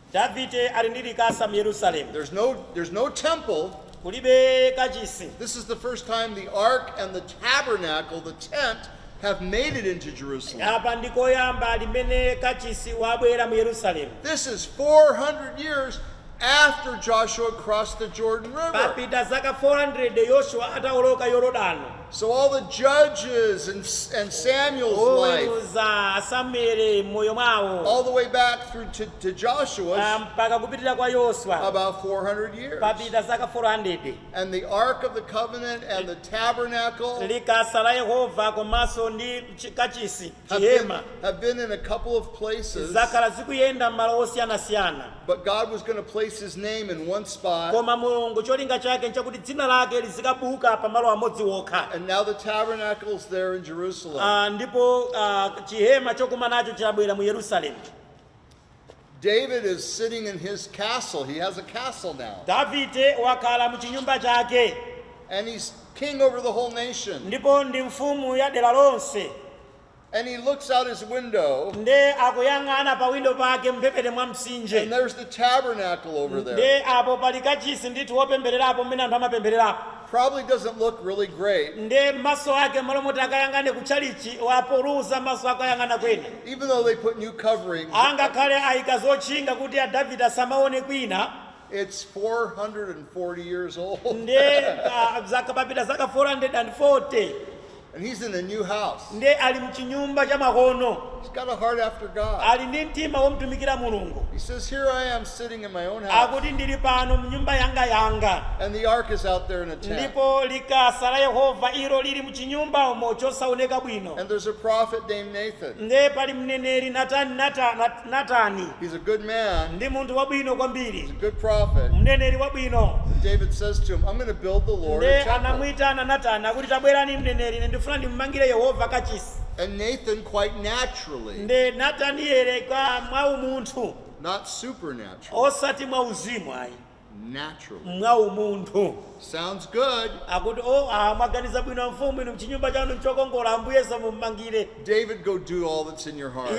Davide ali ndi likasa m'Yerusalemu. There's no, there's no temple. Kulibe kachisi. This is the first time the ark and the tabernacle, the tent, have made it into Jerusalem. Apa ndi koyamba kumene kachisi wabwera mu Yerusalemu. This is 400 years after Joshua crossed the Jordan River. Papita zaka 400 Yoshua atawoloka Yorodano. So all the judges and, and Samuel's life, oweruza a samueli m'moyo mwawo all the way back through to, to ah, Joshua's, mpaka kupitirira kwa yoswa about 400 years. papita zaka 400 And the Ark of the Covenant and the tabernacle likasa la yehova komanso ndi chi- kachisi have been, chihema have been in a couple of places, zakhala zikuyenda m'malo osiyanasiyana but God was going to place his name in one spot. koma mulungu cholinga chake nchakuti dzina lake lizikabukira pamalo amodzi wokha And now the tabernacle's there in Jerusalem. Ah, ndipo ah, chihema chokumanacho chabwera mu yerusalemu David is sitting in his castle. He has a castle now. davide wakhala mu chinyumba chake And he's king over the whole nation. ndipo ndi mfumu ya dera lonse And he looks out his window, nde akuyang'ana pa windo pake mphepete mwa mtsinje and there's the tabernacle over there. nde apo pali kachisi ndithu wopembererapo mmene anthu amapembererapo Probably doesn't look really great. nde maso ake mmalo moti akayang'ane ku tchalitchi wapuluza maso akayang'ana kwina Even though they put new coverings, angakhale ayika zotchinga kuti a davide asamaone kwina it's 440 years old. nde papita zaka 440 And he's in a new house. nde ali mchinyumba chamakono He's got a heart after God. ali ndi mtima womtumikira mulungu He says, Here I am sitting in my own house, akuti ndili pano mnyumba yanga yanga and the ark is out there in a tent. ndipo likasa la yehova ilo lili mchinyumba umo chosaoneka bwino And there's a prophet named Nathan. nde pali mneneri natani Natani He's a good man. ndi munthu wabwino kwambiri, He's a good prophet. mneneri wabwino. And David says to him, I'm going to build the Lord a temple. Nde anamuyitana Natani akuti, tabwerani mneneri, ndifuna ndimumangire Yehova kachisi. And Nathan, quite naturally, Nde Nataniele mwa umunthu not supernatural, osati mwa uzimu ayi, mwa umunthu. Akuti, O, aa, mwaganiza bwino, amfumu, inu chinyumba chanu nchokongola, Ambuyenso mum'mangire.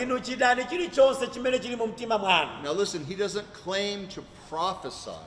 Inu chitani chirichonse chimene chiri mu mtima mwanu.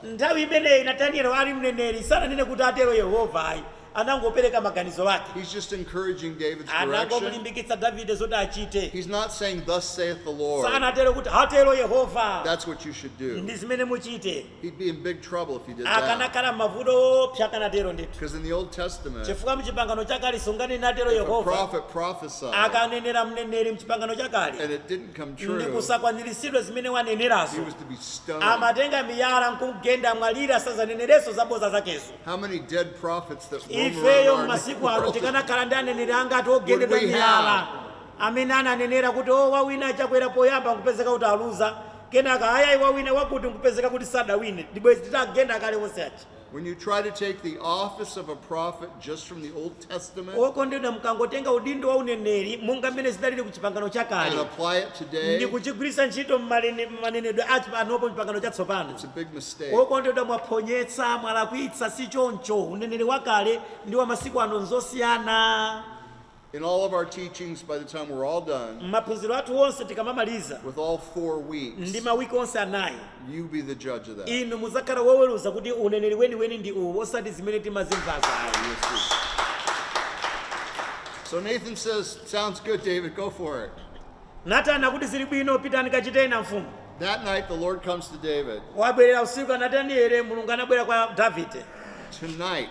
Nthawi imeneyi Natanieli ali mneneri sananene kuti, Atero Yehova ayi. anangopereka maganizo ake. He's just encouraging David's direction. anangomulimbikitsa davide zoti achite He's not saying, Thus saith the Lord. sanatero kuti atero yehova That's what you should do. ndi zimene muchite He'd be in big trouble if he did that. akanakhala mmavuto oopsa akanatero ndithu Because in the Old Testament, chifukwa mchipangano chakale sunganene atero yehova if a prophet prophesied akanenera mneneri mchipangano chakale and it didn't come true, ndi kusakwaniritsidwa zimene wanenerazo he was to be stoned. amatenga miyala nkugenda mwalira sazaneneraso zaboza zakezo How many dead prophets that roam around our world? ifeyo masiku ano tikanakhala ndi aneneri angati ogendedwa miyala Would we have? amene ananenera kuti o wawina achakwera poyamba nkupezeka kuti aluza kenaka ayayi wawina wakuti nkupezeka kuti sadawine ndibwezi titagenda kale onse aja When you try to take the office of a prophet just from the Old Testament okondedwa mukangotenga udindo wa uneneri monga mmene zidaliri ku chipangano chakale and apply it today, ndi kuchigwiritsa ntchito m'manenedwe a panopo chipangano chatsopano it's a big mistake. okondedwa mwaphonyetsa mwalakwitsa si choncho uneneri wakale ndi wa masiku ano nzosiyana In all of our teachings, by the time we're all done, mmaphunziro athu onse tikamamaliza with all four weeks, ndi mawiki onse anayi You be the judge of that. inu mudzakhala woweruza kuti uneneri weniweni ndi uwu osati zimene timazimvazo ayi So Nathan says, Sounds good, David, go for it. natani akuti zili bwino pitani kachiteni mfumu That night, the Lord comes to David. wabwerera usiku a natanieli mulungu anabwera kwa davide Tonight,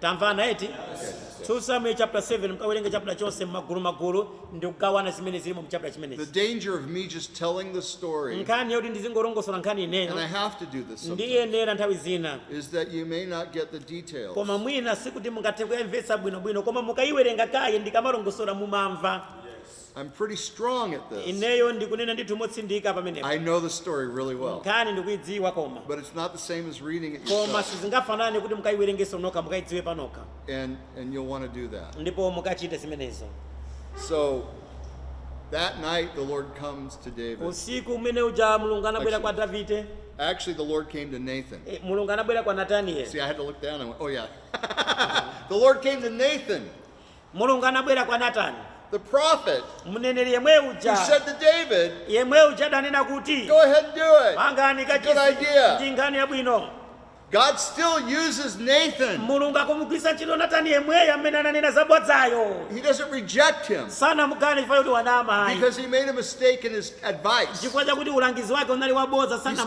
Tamvana eti? 2 Samueli chapter 7 mukawerenge chapter chonse mmagulu magulu ndi kugawana zimene zilimo mu chapter The chimenechi. danger of me just telling the story, and Nkhani yoti ndizingolongosola nkhani I ineyo have to do this sometimes, ndiyenera nthawi zina is that you may not get the details. koma mwina sikuti mungathe kuyamvetsa bwinobwino koma mukayiwerenga kaye ndikamalongosola mumamva I'm pretty strong at this. ineyo ndikunena ndithu motsindika pamenepo I know the story really well. nkhani ndikuidziwa koma But it's not the same as reading it koma yourself. sizingafanane kuti mukaiwerengeso nokha mukaidziwe panokha And, and you'll want to do that. ndipo mukachite zimenezo So that night, the Lord comes to David. usiku umene uja mulungu anabwera kwa davide Actually, the Lord came to Nathan. eh, mulungu anabwera kwa See, natanieli I had to look down and went, oh, yeah. the Lord came to Nathan. Mulungu anabwera kwa Natani, the prophet, mneneri yemwe who uja said to David, yemwe uja adanena kuti Go ahead and do it. pangani Good kachisi idea. ndi nkhani yabwino. God still uses Nathan. Mulungu akumugwiritsa ntchito Natani yemweyo amene ananena zabodzayo. He doesn't reject him Sanamukane chifukwa kuti wanama ayi. because he made a mistake in his advice. chifukwa chakuti ulangizi wake unali wabodza sana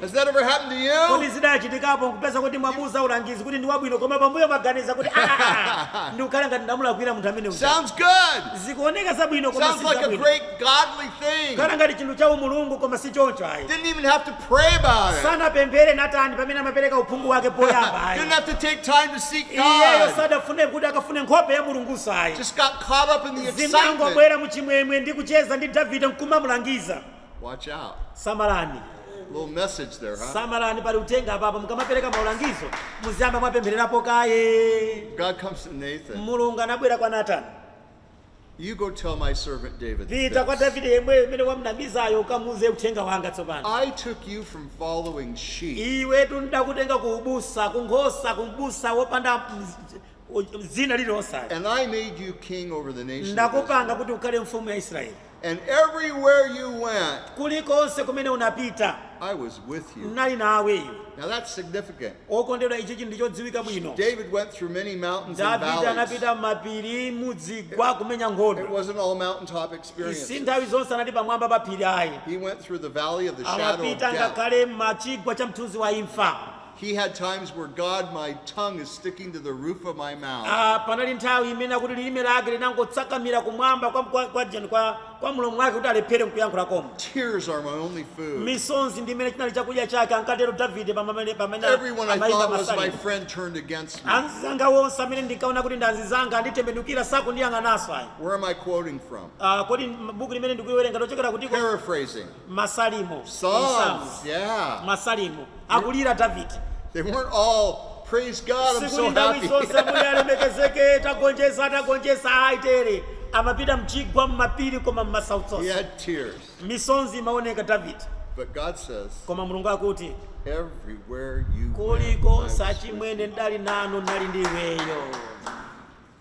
Has that ever happened to you? kodi zidachitikapo nkupeza kuti mwamuuza ulangizi kuti ndi wabwino koma pambuyo maganiza kuti "Ah, ah, ah, ndikukhala ngati ndamulakwira munthu amene uja." Sounds good. zikuoneka zabwino koma Sounds si like a zabwino great godly thing. khala ngati chinthu cha umulungu koma si choncho ayi Didn't even have to pray about it. sanapemphere natani pamene amapereka uphungu wake poyamba ayi Didn't have to take time to seek iyeyo God. sadafune kuti akafune nkhope ya mulunguso ayi Just got caught up in the excitement. zinangobwera muchimwemwe ndi kucheza ndi davide nkumamulangiza Watch out. samalani Little message there, huh? samalani pali uthenga apapa mukamapereka maulangizo muziyamba mwapemphererapo kaye God comes to Nathan. mulungu anabwera kwa natani You go tell my servant David. pita kwa this. davide yemweyo amene wamnamizayo ukamuuze uthenga wanga tsopano I took you from following sheep iwetu ndidakutenga ku ubusa ku nkhosa ku mbusa wopanda mz- u- dzina lililonse and I made you king over the nation. of Israel. ndakupanga kuti ukhale mfumu ya israeli And everywhere you went, kulikonse kumene unapita I was with you. ndinali nawe iwe Now that's significant. okondedwa ichi nchinthu chodziwika bwino David went through many mountains and davide valleys. anapita m'mapiri muzigwa kumenya It nkhondo wasn't all mountaintop si experiences. nthawi zonse anali pamwamba pa phiri ayi He went through the valley of the shadow of amapita death. ngakhale m'chigwa cha mthunzi wa imfa He had times where God, my tongue is sticking to the roof of my mouth. Ah, panali nthawi imene akuti lilime lake linangokakamira kumwamba kwa, kwa, kwa, jani- kwa, kwa mlomo wake kuti alephere nkuyankhula koma Tears are my only food. misonzi ndi imene chinali chakudya chake ankatero davide pamene Everyone I amayimba thought was my masalimo friend turned against me. anzanga wonse amene ndinkaona kuti ndi anzanga anditembenukira sakundiyang'ananso ayi Where am I quoting from? Ah, kodi m- buku limene ndikuwerenga lochokera kutiko Paraphrasing. Masalimo, Psalms, yeah. Masalimo, akulira Davide. sikuti nthawi zonse Ambuye alemekezeke tagonjetsa tagonjetsa ayi They weren't all, praise God, I'm so happy. He had tears. amapita mchigwa mmapiri koma mmasautso misonzi imaoneka davide But God says, koma mulungu akuti everywhere you went, kuliko achimwene ndali nanu ndali ndi iweyo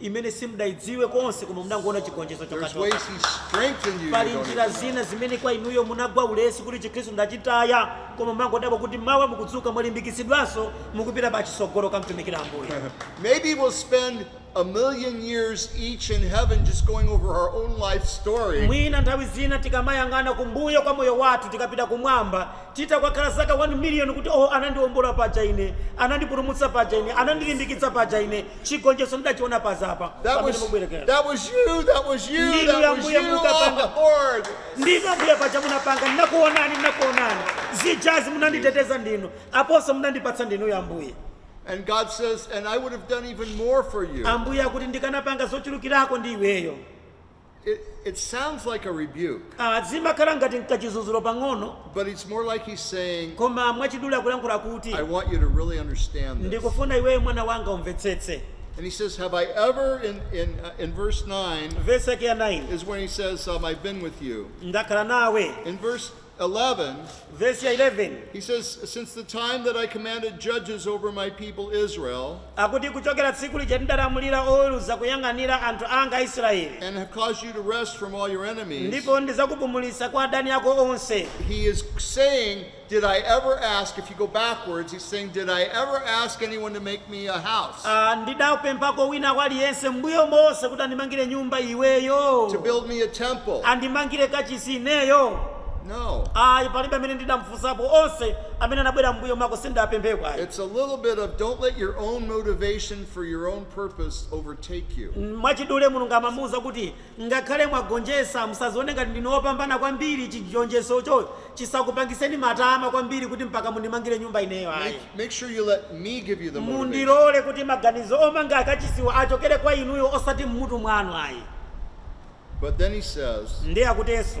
imene simudaidziwe konse koma munangoona chigonjetso chokhachokha. Pali njira zina zimene kwa inuyo munagwa ulesi kuti chikhristu ndachitaya koma mumangodabwa kuti mawa mukudzuka mwalimbikitsidwanso mukupita pachitsogolo kumtumikira Ambuye. Maybe we'll spend a million years each in heaven just going over our own life story. Mwina nthawi zina tikamayang'ana kumbuyo kwa moyo wathu tikapita kumwamba titakhala zaka 1 million kuti oh anandiombola paja ine anandipulumutsa paja ine anandilimbikitsa paja ine chigonjetso ndidachiona paja apa That pamene was, mubwerera that was you. That was you. Ndinu That was Ambuye you on mukapanga. the board. ndinu ambuye paja munapanga ndinakuonani ndinakuonani zijazi munanditeteza ndinu aponso munandipatsa ndinu Ambuye And God says, and I would have done even more for you. ambuye akuti ndikanapanga zochulukirako ndi iweyo It, it sounds like a rebuke, Ah, zimakhala ngati nkachidzudzulo pang'ono but it's more like he's saying, koma mwachidule akulankhula kuti I want you to really understand this. ndikufuna iweyo mwana wanga umvetsetse And he says, Have I ever, in, in, uh, in verse 9, vesi yake ya 9 is when he says, um, I've been with you. ndakhala nawe In verse 11, vesi ya 11 he says, Since the time that I commanded judges over my people Israel, akuti kuchokera tsiku lija ndidalamulira oweruza kuyang'anira anthu anga aisraeli and have caused you to rest from all your enemies, ndipo ndidzakupumulitsa kwa adani ako onse he is saying, Did I ever ask, if you go backwards, he's saying, Did I ever ask anyone to make me a house. Ah, ndidapemphako wina kwa aliyense m'mbuyo monse kuti andimangire nyumba to iweyo build me a temple. andimangire kachisi ineyo No. ayi palibe amene ndidamfunsapo onse amene anabwera m'mbuyo mwako sindidapempheko ayi It's a little bit of don't let your own motivation for your own purpose overtake you. mwachidule mulungu amamuwuza kuti Ngakhale mwagonjetsa, musadzione ngati ndinu wopambana kwambiri. Chigonjetsocho chisakupangitseni matama kwambiri kuti mpaka mundimangire nyumba ineyo ayi. Make, make sure you let me give you the motivation. Mundilole kuti maganizo omanga akachisiwa achokere kwa ineyo osati m'mutu mwanu ayi. But then he says, Ndiye akutinso.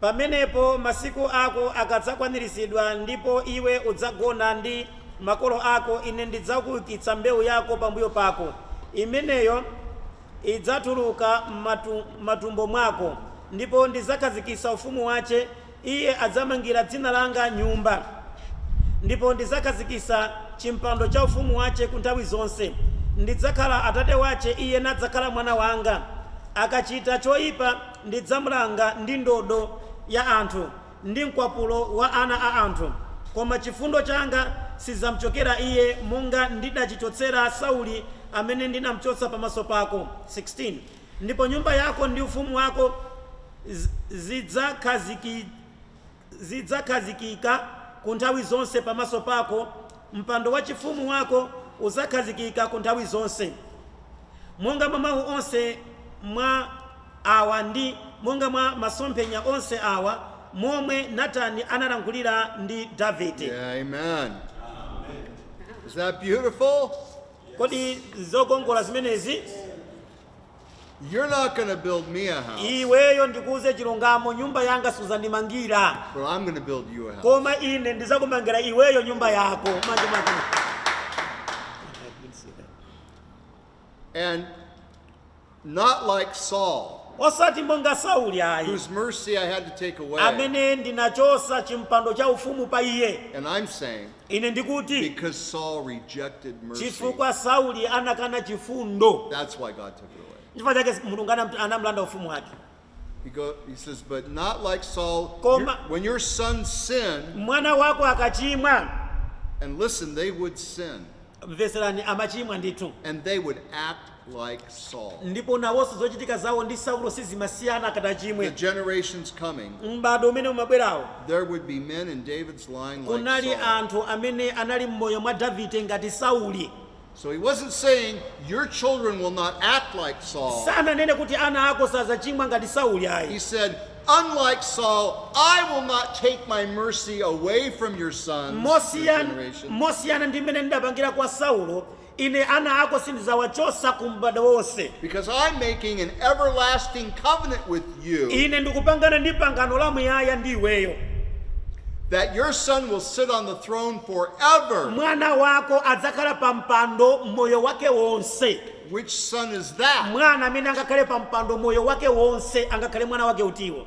Pamenepo masiku ako akadzakwaniritsidwa, ndipo iwe udzagona ndi makolo ako, ine ndidzakuukitsa mbewu yako pambuyo pako, imeneyo idzatuluka m'matumbo mwako, ndipo ndidzakhazikitsa ufumu wache, iye adzamangira dzina langa nyumba, ndipo ndidzakhazikitsa chimpando cha ufumu wache ku nthawi zonse, ndidzakhala atate wache, iye nadzakhala mwana wanga, akachita choipa. Ndidzamlanga ndi ndodo ya anthu, ndi mkwapulo wa ana a anthu, koma chifundo changa sidzamchokera iye, monga ndidachichotsera Sauli amene ndinamchotsa pamaso pako, 16 ndipo nyumba yako ndi ufumu wako zidzakhaziki. zidzakhazikika ku nthawi zonse pamaso pako, mpando wachifumu wako udzakhazikika ku nthawi zonse. Monga mwa mawu onse mwa awa ndi monga mwa masomphenya onse awa, momwe Natani analankhulira ndi Davide. Yeah, amen. Is that beautiful? Kodi zokongola zimenezi? You're not going to build me a house, iweyo ndikuuze chilungamo nyumba yanga suzandimangira but I'm going to build you a house. koma ine ndizakumangira iweyo nyumba yako manje manje And not like Saul, osati monga sauli ayi whose mercy I had to take away. amene ndinachosa chimpando cha ufumu pa iye And I'm saying, Ine ndikuti, Because Saul rejected mercy. chifukwa Sauli anakana chifundo, That's why God took it away. chifukwa chake Mulungu anam- anamlanda ufumu wake. He, go, he says, but not like Saul. Koma- Your- when your son sinned, Mwana wako akachimwa, and listen, they would sin, mveserani, amachimwa ndithu, and they would act like Saul. ndipo nawonso zochitika zawo ndi saulo sizimasiyana akati achimwe The generations coming, m'bado umene umabwerawo there would be men in David's line like Saul. kunali anthu amene anali m'moyo mwa davide ngati sauli So he wasn't saying your children will not act like Saul. sananene kuti ana ako sazachimwa ngati sauli ayi He said, unlike Saul, I will not take my mercy away from your sons, your generation. mosiyana ndi mmene ndidapangira kwa saulo Ine ana ako sindizawachosa ku m'bado wonse. Because I'm making an everlasting covenant with you. Ine ndikupangana ndi pangano la muyaya ndi iweyo. That your son will sit on the throne forever. Mwana wako adzakhala pa mpando moyo wake wonse. Which son is that? Mwana amene angakhale pa mpando moyo wake wonse angakhale mwana wake utiwo?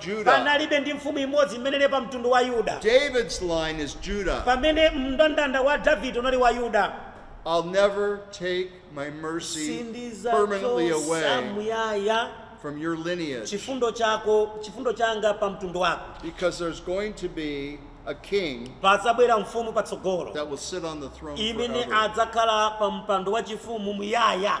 Judah. Panalibe ndi mfumu imodzi imene ili pa mtundu wa Yuda. David's line is Judah. Pamene mndandanda wa Davide unali wa Yuda. I'll never take my mercy permanently away from your lineage. Sindizachotsa muyaya chifundo changa pa mtundu wako. Because there's going to be a king padzabwera mfumu patsogolo that will sit on the throne imene adzakhala pa mpando wachifumu muyaya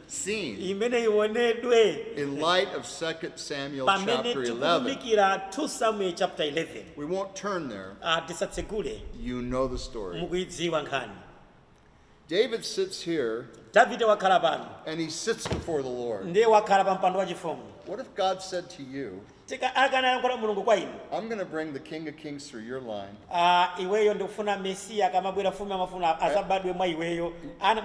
seen imene ionedwe in light of 2 Samuel pamene chapter 11. tikuunikira 2 samuel chapter 11 We won't turn there. Ah, tisatsegule You know the story. mukuidziwa nkhani David sits here davide wakhala pano and he sits before the Lord. ndiye wakhala pa mpando wachifumu What if God said to you, Akanayankhula Mulungu kwa inu. I'm going to bring the King of Kings through your line. Ah, iweyo ndikufuna Mesiya akamabwera mfumu ya mafumu a- azabadwe mwa iweyo.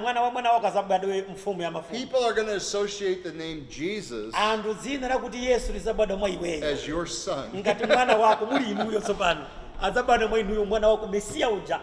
Mwana wa mwana wako azabadwe mfumu ya mafumu. People are going to associate the name Jesus Anthu dzina lakuti Yesu lizabadwa mwa iweyo. as your son. Ngati mwana wako muli inuyo tsopano. Azabadwa mwa inuyo mwana wako Mesiya uja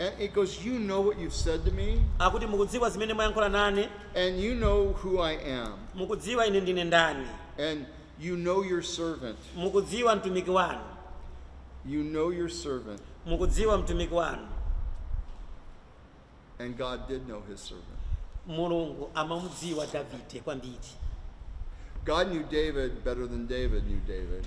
And he goes, You know what you've said to me, akuti mukudziwa zimene mwayankhula nane and you know who I am, mukudziwa ine ndine ndani and you know your servant. mukudziwa mtumiki wanu You know your servant. mukudziwa mtumiki wanu And God did know his servant. mulungu amamudziwa davide kwambiri God knew David better than David knew David.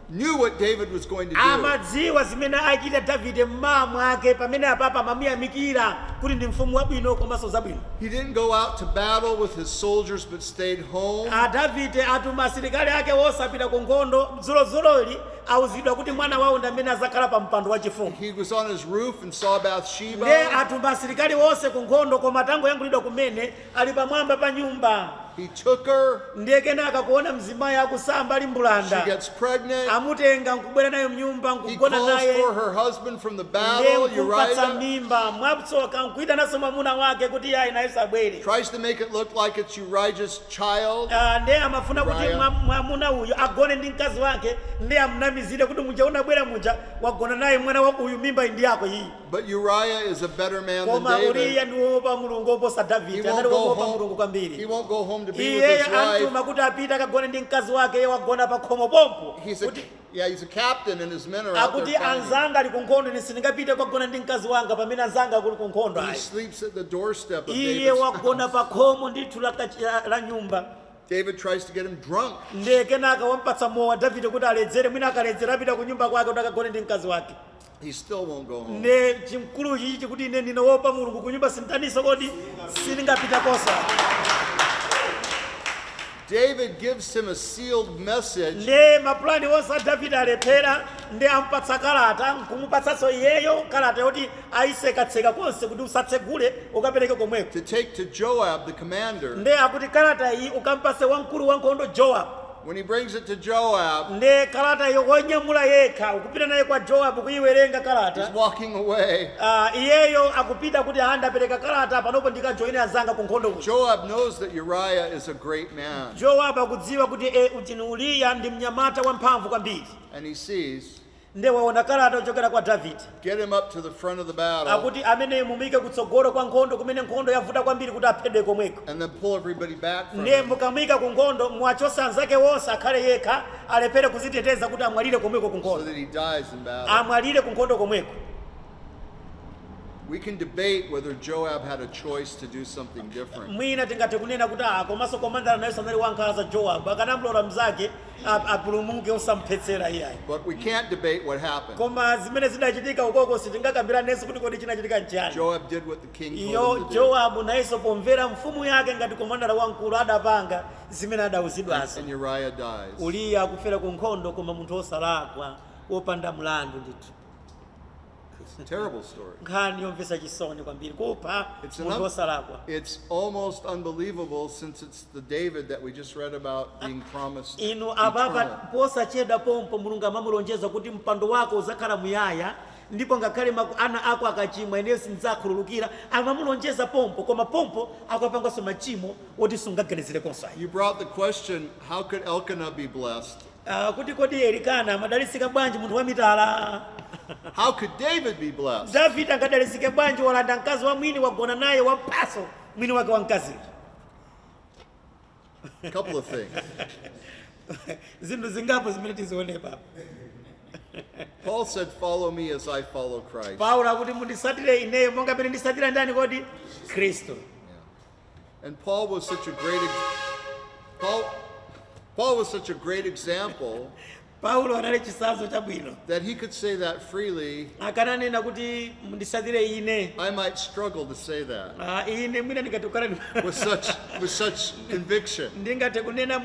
knew what David was going to do. amadziwa zimene achita davide m'mawa mwake pamene apapa amamuyamikira kuti ndi mfumu wabwino komanso zabwino He didn't go out to battle with his soldiers, but stayed home. a davide atuma asilikali ake onse apita ku nkhondo dzulodzuloli auzidwa kuti mwana wawo ndi amene azakhala pa mpando wachifumu He was on his roof and saw Bathsheba. nde atuma asilikali onse ku nkhondo koma tangoyankhulidwa kumene ali pamwamba pa nyumba. He took her. ndiye kenaka kuona mzimayi akusamba ali mbulanda She gets pregnant. amutenga nkubwera naye mnyumba He nkugona calls naye for her husband from the ndiye battle, nkumpatsa Uriah. mimba mwatsoka nkuyitananso mwamuna wake kuti iyeyo nayenso abwere Tries to make it look like it's Uriah's child. Ah, ndiye amafuna kuti Uriah. mwa- mwamuna uyu agone ndi mkazi wake ndiye amnamizire kuti muja unabwera muja wagona naye mwana wa uyu mimba iyi ndi yako iyi But Uriah is a better man than koma uriya David. ndi wowopa mulungu woposa He davide won't anali go wowopa home. mulungu He kwambiri won't go home to be with iyeyo his wife. amtuma kuti apite akagone ndi mkazi wake iye wagona pa khomo pompo He's a, kuti yeah, he's a captain and his men are out akuti there fighting. anzanga ali ku nkhondo ine sindingapite kukagona ndi mkazi wanga pamene anzanga ali ku nkhondo He ayi sleeps at the doorstep of iye David's wagona house. pa khomo ndithu la kachi- la- la nyumba David tries to get him drunk. ndiye kenaka wampatsa mowa davide kuti aledzere mwina akaledzera apita ku nyumba kwake kuti akagone ndi mkazi wake He still won't go home. nde chimkulu chichi chikuti ine ndine wopa mulungu kunyumba sinditaninso kodi sindingapita kosa David gives him a sealed message nde mapulani onse a davide alephera nde ampatsa kalata nkumupatsanso iyeyo kalata yoti aitsekatseka konse kuti usatsegule ukapereke komweko to take to Joab, the commander, nde akuti kalata iyi ukampase wamkulu wankhondo joab When he brings it to Joab, nde kalata iyo wanyamula yekha akupita nayo kwa joabu kuyiwerenga he's kalata walking away. Ah, iyeyo akupita kuti ah ndapereka kalata panopo ndikajoyine anzanga ku nkhondo kuja Joab knows that Uriah is a great man, joabu akudziwa kuti e uchini uliya ndi mnyamata wamphamvu kwambiri and he sees Nde waona kalata yochokera kwa Davide. Get him up to the front of the battle. Akuti ameneyu mumuike kutsogolo kwa nkhondo kumene nkhondo yavuta kwambiri kuti aphedwe komweko. And then pull everybody back from Ndiye mukamuika ku nkhondo muwachotse anzake wonse akhale yekha alephere kuziteteza kuti amwalire komweko ku nkhondo. So that he dies in battle. Amwalire ku nkhondo komweko. We can debate whether Joab had a choice to do something different. Mwina tingathe kunena kuti ah komanso komandala naye anali wankhanza Joab akanamlola mzake ap- apulumuke osamphetsera iyayi But we can't debate what happened. koma zimene zidachitika ukoko sitingakambiranenso kuti kodi chinachitika nchiyani Joab did what the king told iyo him to do. jowabu nayenso pomvera mfumu yake ngati komandala wamkulu adapanga zimene adauzidwazo And Uriah dies. uliya akufera ku nkhondo koma munthu wosalakwa wopanda mlandu ndithu It's a terrible story. nkhani yomvetsa chisoni kwambiri kupha It's, an munthu un- wosalakwa it's almost unbelievable since it's the David that we just read about being promised. inu apapa eternal. posachedwa pompo mulungu amamulonjeza kuti mpando wako udzakhala muyaya ndipo ngakhale maku- ana ako akachimwa ineyo sindidzakhululukira amamulonjeza pompo koma pompo akupanganso machimo oti sungaganizirenso ayi You brought the question, how could Elkanah be blessed? Ah, kuti kodi Elikana amadalitsika bwanji munthu wamitala? How could David be blessed? Davide angadalitsike bwanji walanda mkazi wa mwini wagona naye wamphanso mwini wake wa mkaziyo? A couple of things. Zinthu zingapo zimene tizione apa. Paul said, Follow me as I follow Christ. Paulo akuti munditsatire ineyo monga mene nditsatira ndani kodi? Kristu. And Paul was such a great Paul, Paul was such a great example paulo anali chitsanzo chabwino that he could say that freely akananena kuti munditsatire ine i might struggle to say that ah, ine mwina ndingatukana with such with such conviction ndingathe kunena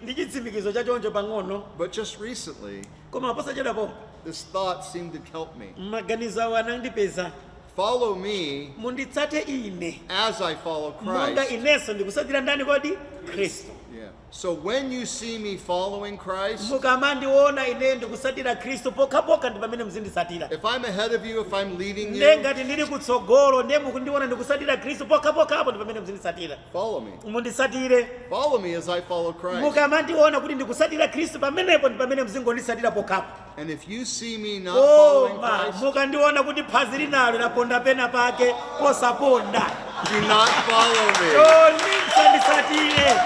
ndi chitsimikizo chachoncho pang'ono but just recently koma posachedwa pompa this thought seemed to help me. maganizo awo anandipeza Follow me munditsate ine as I follow monga Christ. inenso ndikutsatira ndani kodi khristu Yeah. So when you see me following Christ, mukamandiona ine ndikutsatira khristu pokhapokha ndi pamene muzinditsatira if I'm ahead of you, if I'm leading nde you, ngati ndili kutsogolo nde mukundiona ndikutsatira khristu pokhapokhapo ndi pamene muzinditsatira follow me. munditsatire. Follow me as I follow Christ. mukamandiona kuti ndikutsatira khristu pamenepo ndi pamene muzingonditsatira pokhapo And if you see me not following koma Christ, mukandiona kuti phazi linalo laponda pena pake posaponda do not follow me. chonde musanditsatire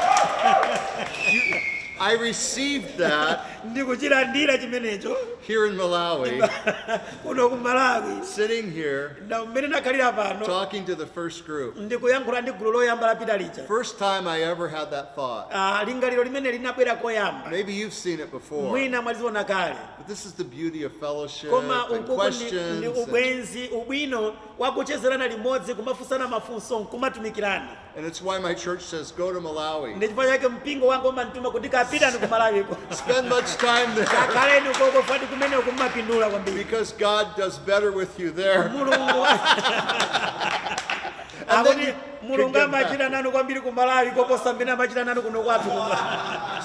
I received that ndikuchilandira chimenecho here in Malawi, kuno ku malawi sitting here, Na mmene nakhalira pano talking to the first group, ndikuyankhula ndi gulu loyamba lapita lija first time I ever had that thought. ah, lingaliro limeneli linabwera koyamba Maybe you've seen it before. mwina mwadziona kale But this is the beauty of fellowship koma and ukuku ndi- ndi questions. and- ubwenzi ubwino wakuchezerana limodzi kumafunsana mafunso nkumatumikirana And it's why my church says, go to Malawi. ndi chifukwa chake mpingo wanga umandituma kuti pitani ku malawiko Spend much time there kakhaleni ukoko fati kumene kumapindula kwambiri because God does better with you there. mulungu And then akuti you can mulungu get back. amachita nanu kwambiri ku malawi koposa mmene amachita nanu kuno kwathu kuno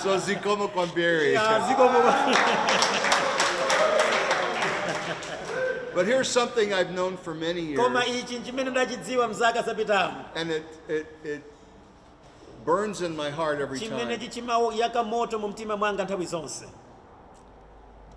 So Zikomo Kwambiri. zikomo But here's something I've known for many koma years. ichi nchimene ndachidziwa mzaka zapitamu And it, it, it burns in my heart every time. chimenechi chimayaka moto mu mtima mwanga nthawi zonse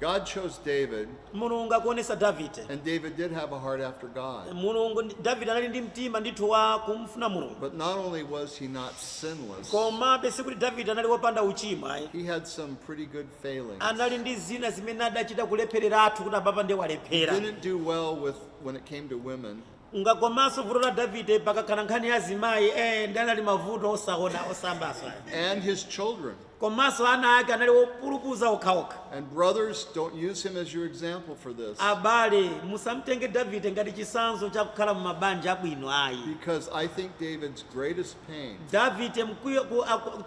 God chose David, mulungu akuonesa davide and David did have a heart after God. mulungu ndi- davide anali ndi mtima ndithu wa kumufuna mulungu But not only was he not sinless, komabe sikuti davide anali wopanda uchimo ayi he had some pretty good failings. anali ndi zina zimene adachita kulephereratu kuti apapa ndiye He walephera didn't do well with when it came to women. Monga komanso vuto la Davide pakakhala nkhani ya azimayi ee nde anali mavuto osasambanso ayi. and his children. Komanso ana ake anali opulupudza okhaokha. And brothers, don't use him as your example for this. Abale musamtenge Davide ngati chitsanzo cha kukhala mu mabanja abwino ayi. Because I think David's greatest pain. Davide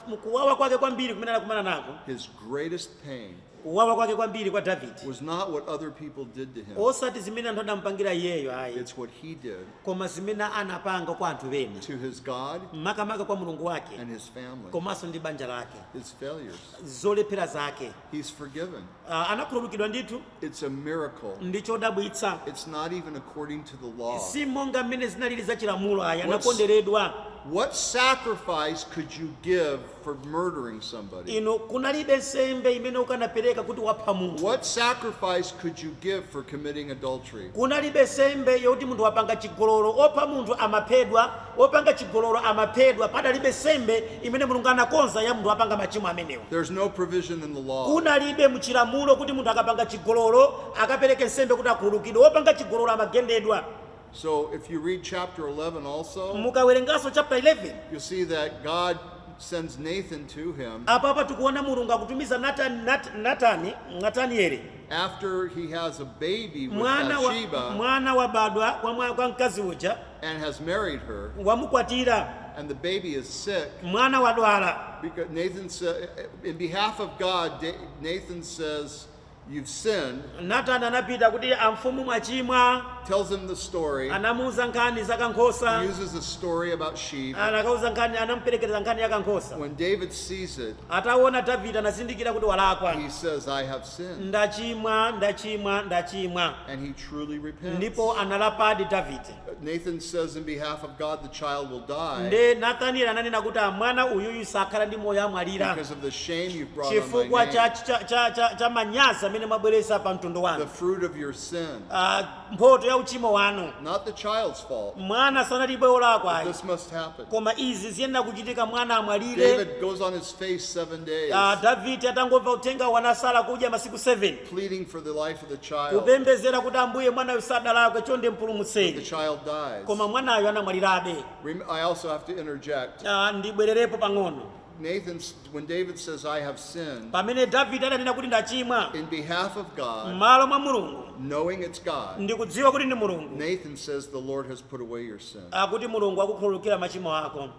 mkuwawa kwake kwambiri kumene anakumana nako. His greatest pain. Kuwawa kwake kwambiri kwa Davide was not what other people did to him. osati zimene anthu adampangira iyeyo ayi It's what he did koma zimene anapanga kwa anthu ena to his God makamaka kwa mulungu wake and his family, komanso ndi banja lake his failures. zolephera zake He's forgiven. Ah, anakhululukidwa ndithu It's a miracle. ndi chodabwitsa It's not even according to the law. si monga mmene zinalili za chilamulo ayi What's- anakonderedwa What sacrifice could you give for murdering somebody? inu kunalibe nsembe imene ukanapereka kuti wapha munthu What sacrifice could you give for committing adultery? kunalibe nsembe yoti munthu wapanga chigololo wopha munthu amaphedwa wopanga chigololo amaphedwa padalibe nsembe imene mulungu anakonza ya munthu wapanga machimo amenewa There's no provision in the law. kunalibe muchilamulo kuti munthu akapanga chigololo akapereke nsembe kuti akhululukidwe wopanga chigololo amagendedwa So if you read chapter 11 also, mukawerenganso chapter 11 you'll see that God sends Nathan to him apapa tikuona mulungu akutumiza natani Nat- natani natanieli after he has a baby with mwana wa, Bathsheba mwana wabadwa kwa, mwa- kwa mkazi uja and has married her, wamukwatira and the baby is sick. mwana wadwala Because Nathan said, in behalf of God, Da- Nathan says, You've sinned. Natani anapita kuti amfumu mwachimwa. Tells him the story. Anamuuza nkhani za kankhosa. He uses a story about sheep. Anakawauza nkhani anamuperekereza nkhani ya kankhosa. When David sees it. Ataona Davide anazindikira kuti walakwa. He says I have sinned. Ndachimwa, ndachimwa, ndachimwa. And he truly repents. Ndipo analapadi Davide. Nathan says in behalf of God the child will die nde nathanieli ananena kuti Ah, mwana uyuyu sakhala ndi moyo amwalira because of the shame you've brought on chifukwa my cha, name, cha, cha, cha, cha manyazi amene mwabweretsa pa mtundu the wanu fruit of your sin. Ah, mphoto ya uchimo wanu Not the child's fault. mwana sanali wolakwa ayi This must happen. koma izi ziyenera kuchitika mwana amwalire David goes on his face seven days. Ah, davide atangomva uthenga wanasala kudya masiku 7 pleading for the life of the child. kupembedzera kuti ambuye mwanayu sadalakwe chonde The mpulumutseni child dies. koma mwanayo anamwalirabe Rem- I also have to interject. Ah, ndibwererepo pang'ono Nathan, s- when David says, I have sinned, pamene davide adanena kuti ndachimwa in behalf of God, m'malo mwa mulungu knowing it's God, ndikudziwa kuti ndi mulungu Nathan says, The Lord has put away your sin. akuti mulungu akukhululukira machimo ako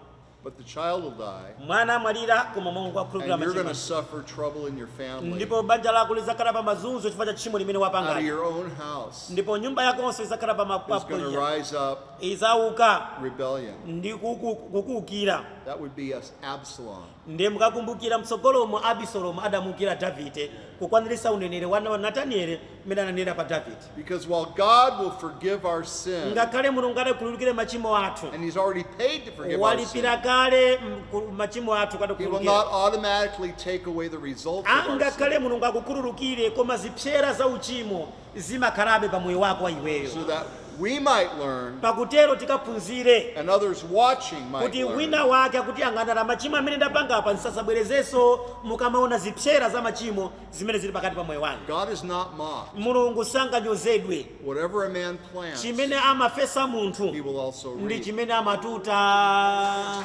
But the child will die. Mwana amwalira koma Mulungu akhululukira machimo. And you're going to suffer trouble in your family. Ndipo banja lako lidzakhala pa mazunzo chifukwa cha tchimo limene wapanga. Out of your own house. Ndipo nyumba yakonso idzakhala pa mapapo. Is going to rise up. Idzauka. Rebellion. Ndi kukuukira. That would be Absalom. Ndiye mukakumbukira mtsogolomo Abisalomu adamuukira Davide kukwaniritsa uneneri wa Natanieli mmene ananenera pa Davide. Because while God will forgive our sin, Ngakhale Mulungu atakhululukire machimo athu, and He's already paid to forgive our sin, walipira kale mku- machimo athu He will kutikhululukira. not automatically take away the results of our sin. angakhale mulungu akukhululukire koma zipsera za uchimo zimakhalabe pa moyo wako wa So iweyo that we might learn, pakutero tikaphunzire and others watching might kuti learn, wina wake akuti angandala machimo amene ndapanga apa ndisadzabwerezenso mukamaona zipsera za machimo zimene zili pakati pa moyo wanga. God is not mocked. Mulungu sanganyozedwe. Whatever a man plants, chimene amafesa munthu he will also reap. ndi chimene amatuta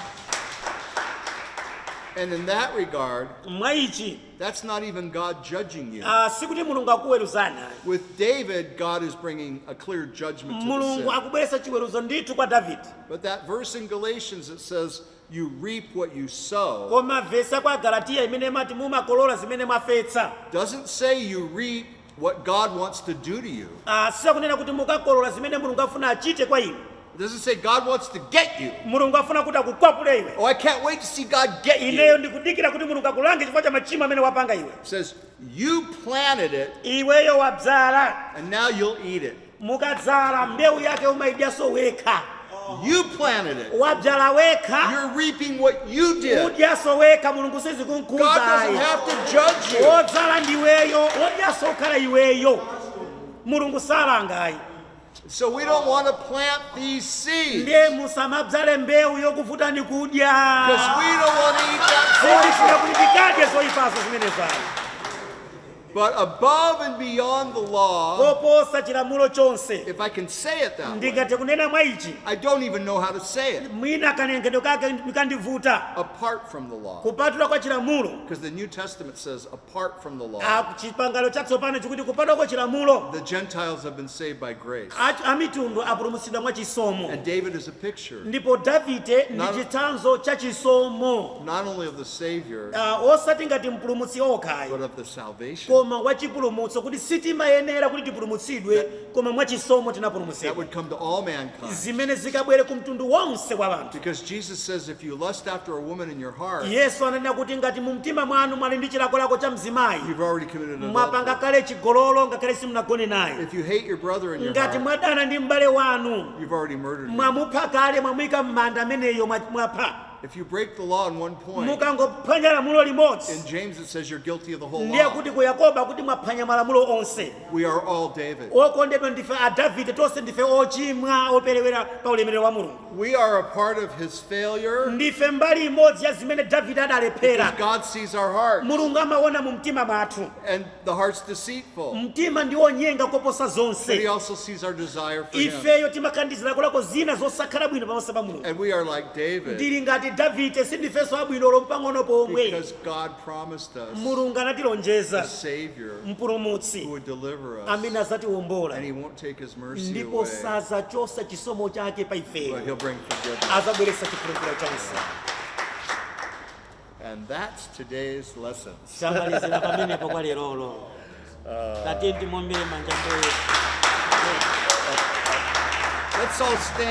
And in that regard, mwa ichi that's not even God judging you. ah, sikuti mulungu akuweruza With David, God is bringing a clear judgment to the mulungu sin. akubweretsa chiweruzo ndithu kwa davide But that verse in Galatians that says, You reap what you sow. Koma vesi ya kwa Agalatiya imene imati mumakolola zimene mwafetsa. Doesn't say you reap what God wants to do to you. Ah, sikunena kuti mukakolola zimene Mulungu afuna achite kwa inu. It doesn't say God wants to get you. Mulungu afuna kuti akukwapule iwe. Oh, I can't wait to see God get you. Ineyo ndikudikira kuti Mulungu akulange chifukwa cha machimo amene wapanga iwe. It says you planted it. Iweyo wabzala. And now you'll eat it. mukadzala mbewu yake umaidyaso wekha You planted it. wabzala wekha You're reaping what you did. udyaso wekha mulungu God doesn't sizikunkuzayi have to judge you. odzala ndiweyo odyaso ukhala iweyo mulungu salangayi So we don't want to plant these seeds ndiye musamabzale mbewu yokuvutani kudya because we don't want to eat that poison. sitifuna kuti tikadye zoyipaso zimenezayi But above and beyond the law, koposa chilamulo chonse if I can say it that way, ndingathe kunena mwa ichi I don't even know how to say it mwina kanenedwe kake ndi kondivuta apart from the law. kupatula kwa chilamulo Because the New Testament says, apart from the law, Ah, chipangano chatsopano chikuti kupatula kwa chilamulo the Gentiles have been saved by grace. a- amitundu apulumutsidwa mwa chisomo And David is a picture ndipo davide ndi Not- chitsanzo cha chisomo not only of the Savior, Ah, osati ngati mpulumutsi yekha ayi but of the salvation koma wa chipulumutso kuti sitimayenera kuti tipulumutsidwe koma mwa chisomo that tinapulumutsidwa would come to all mankind. zimene zikabwere ku mtundu wonse wa anthu Because Jesus says, if you lust after a woman in your heart, yesu ananena kuti ngati mu mtima mwanu mwali ndi chilakolako cha mzimayi you've already committed mwapanga adultery. kale chigololo ngakhale simunagone naye If you hate your brother in your ngati heart, mwadana ndi m'bale wanu you've already murdered him. mwamupha kale mwamuyika m'manda ameneyo mwa- mwapha If you break the law in one point, mukangophwanya lamulo in limodzi James it says you're guilty of the whole ndiye law. kuti ku yakobo akuti mwaphwanya malamulo onse We are all David. okondedwa ndife a davide tonse ndife ochimwa operewera pa ulemerero wa mulungu We are a part of his failure ndife mbali imodzi ya zimene davide because adalephera God sees our heart. mulungu amaona mu mtima mwathu And The heart's deceitful. mtima ndi wonyenga koposa But he zonse also sees our desire for him. ifeyo timakandizira kulako zina zosakhala bwino pamaso pa mulungu And we are like David tili ngati davide sindifenso abwino olo mpang'ono pomwe because God promised us mulungu a anatilonjeza Savior who mpulumutsi would deliver us. amene azatiwombola And he won't take his mercy ndipo away, sazachosa chisomo chake pa but ifeyo he'll bring forgiveness. azabweretsa chikhululukiro chonse And that's today's lesson. Tamalizira pamenepo kwa lerolo. Tatyeni timuombere manja mbuye. Let's all stand.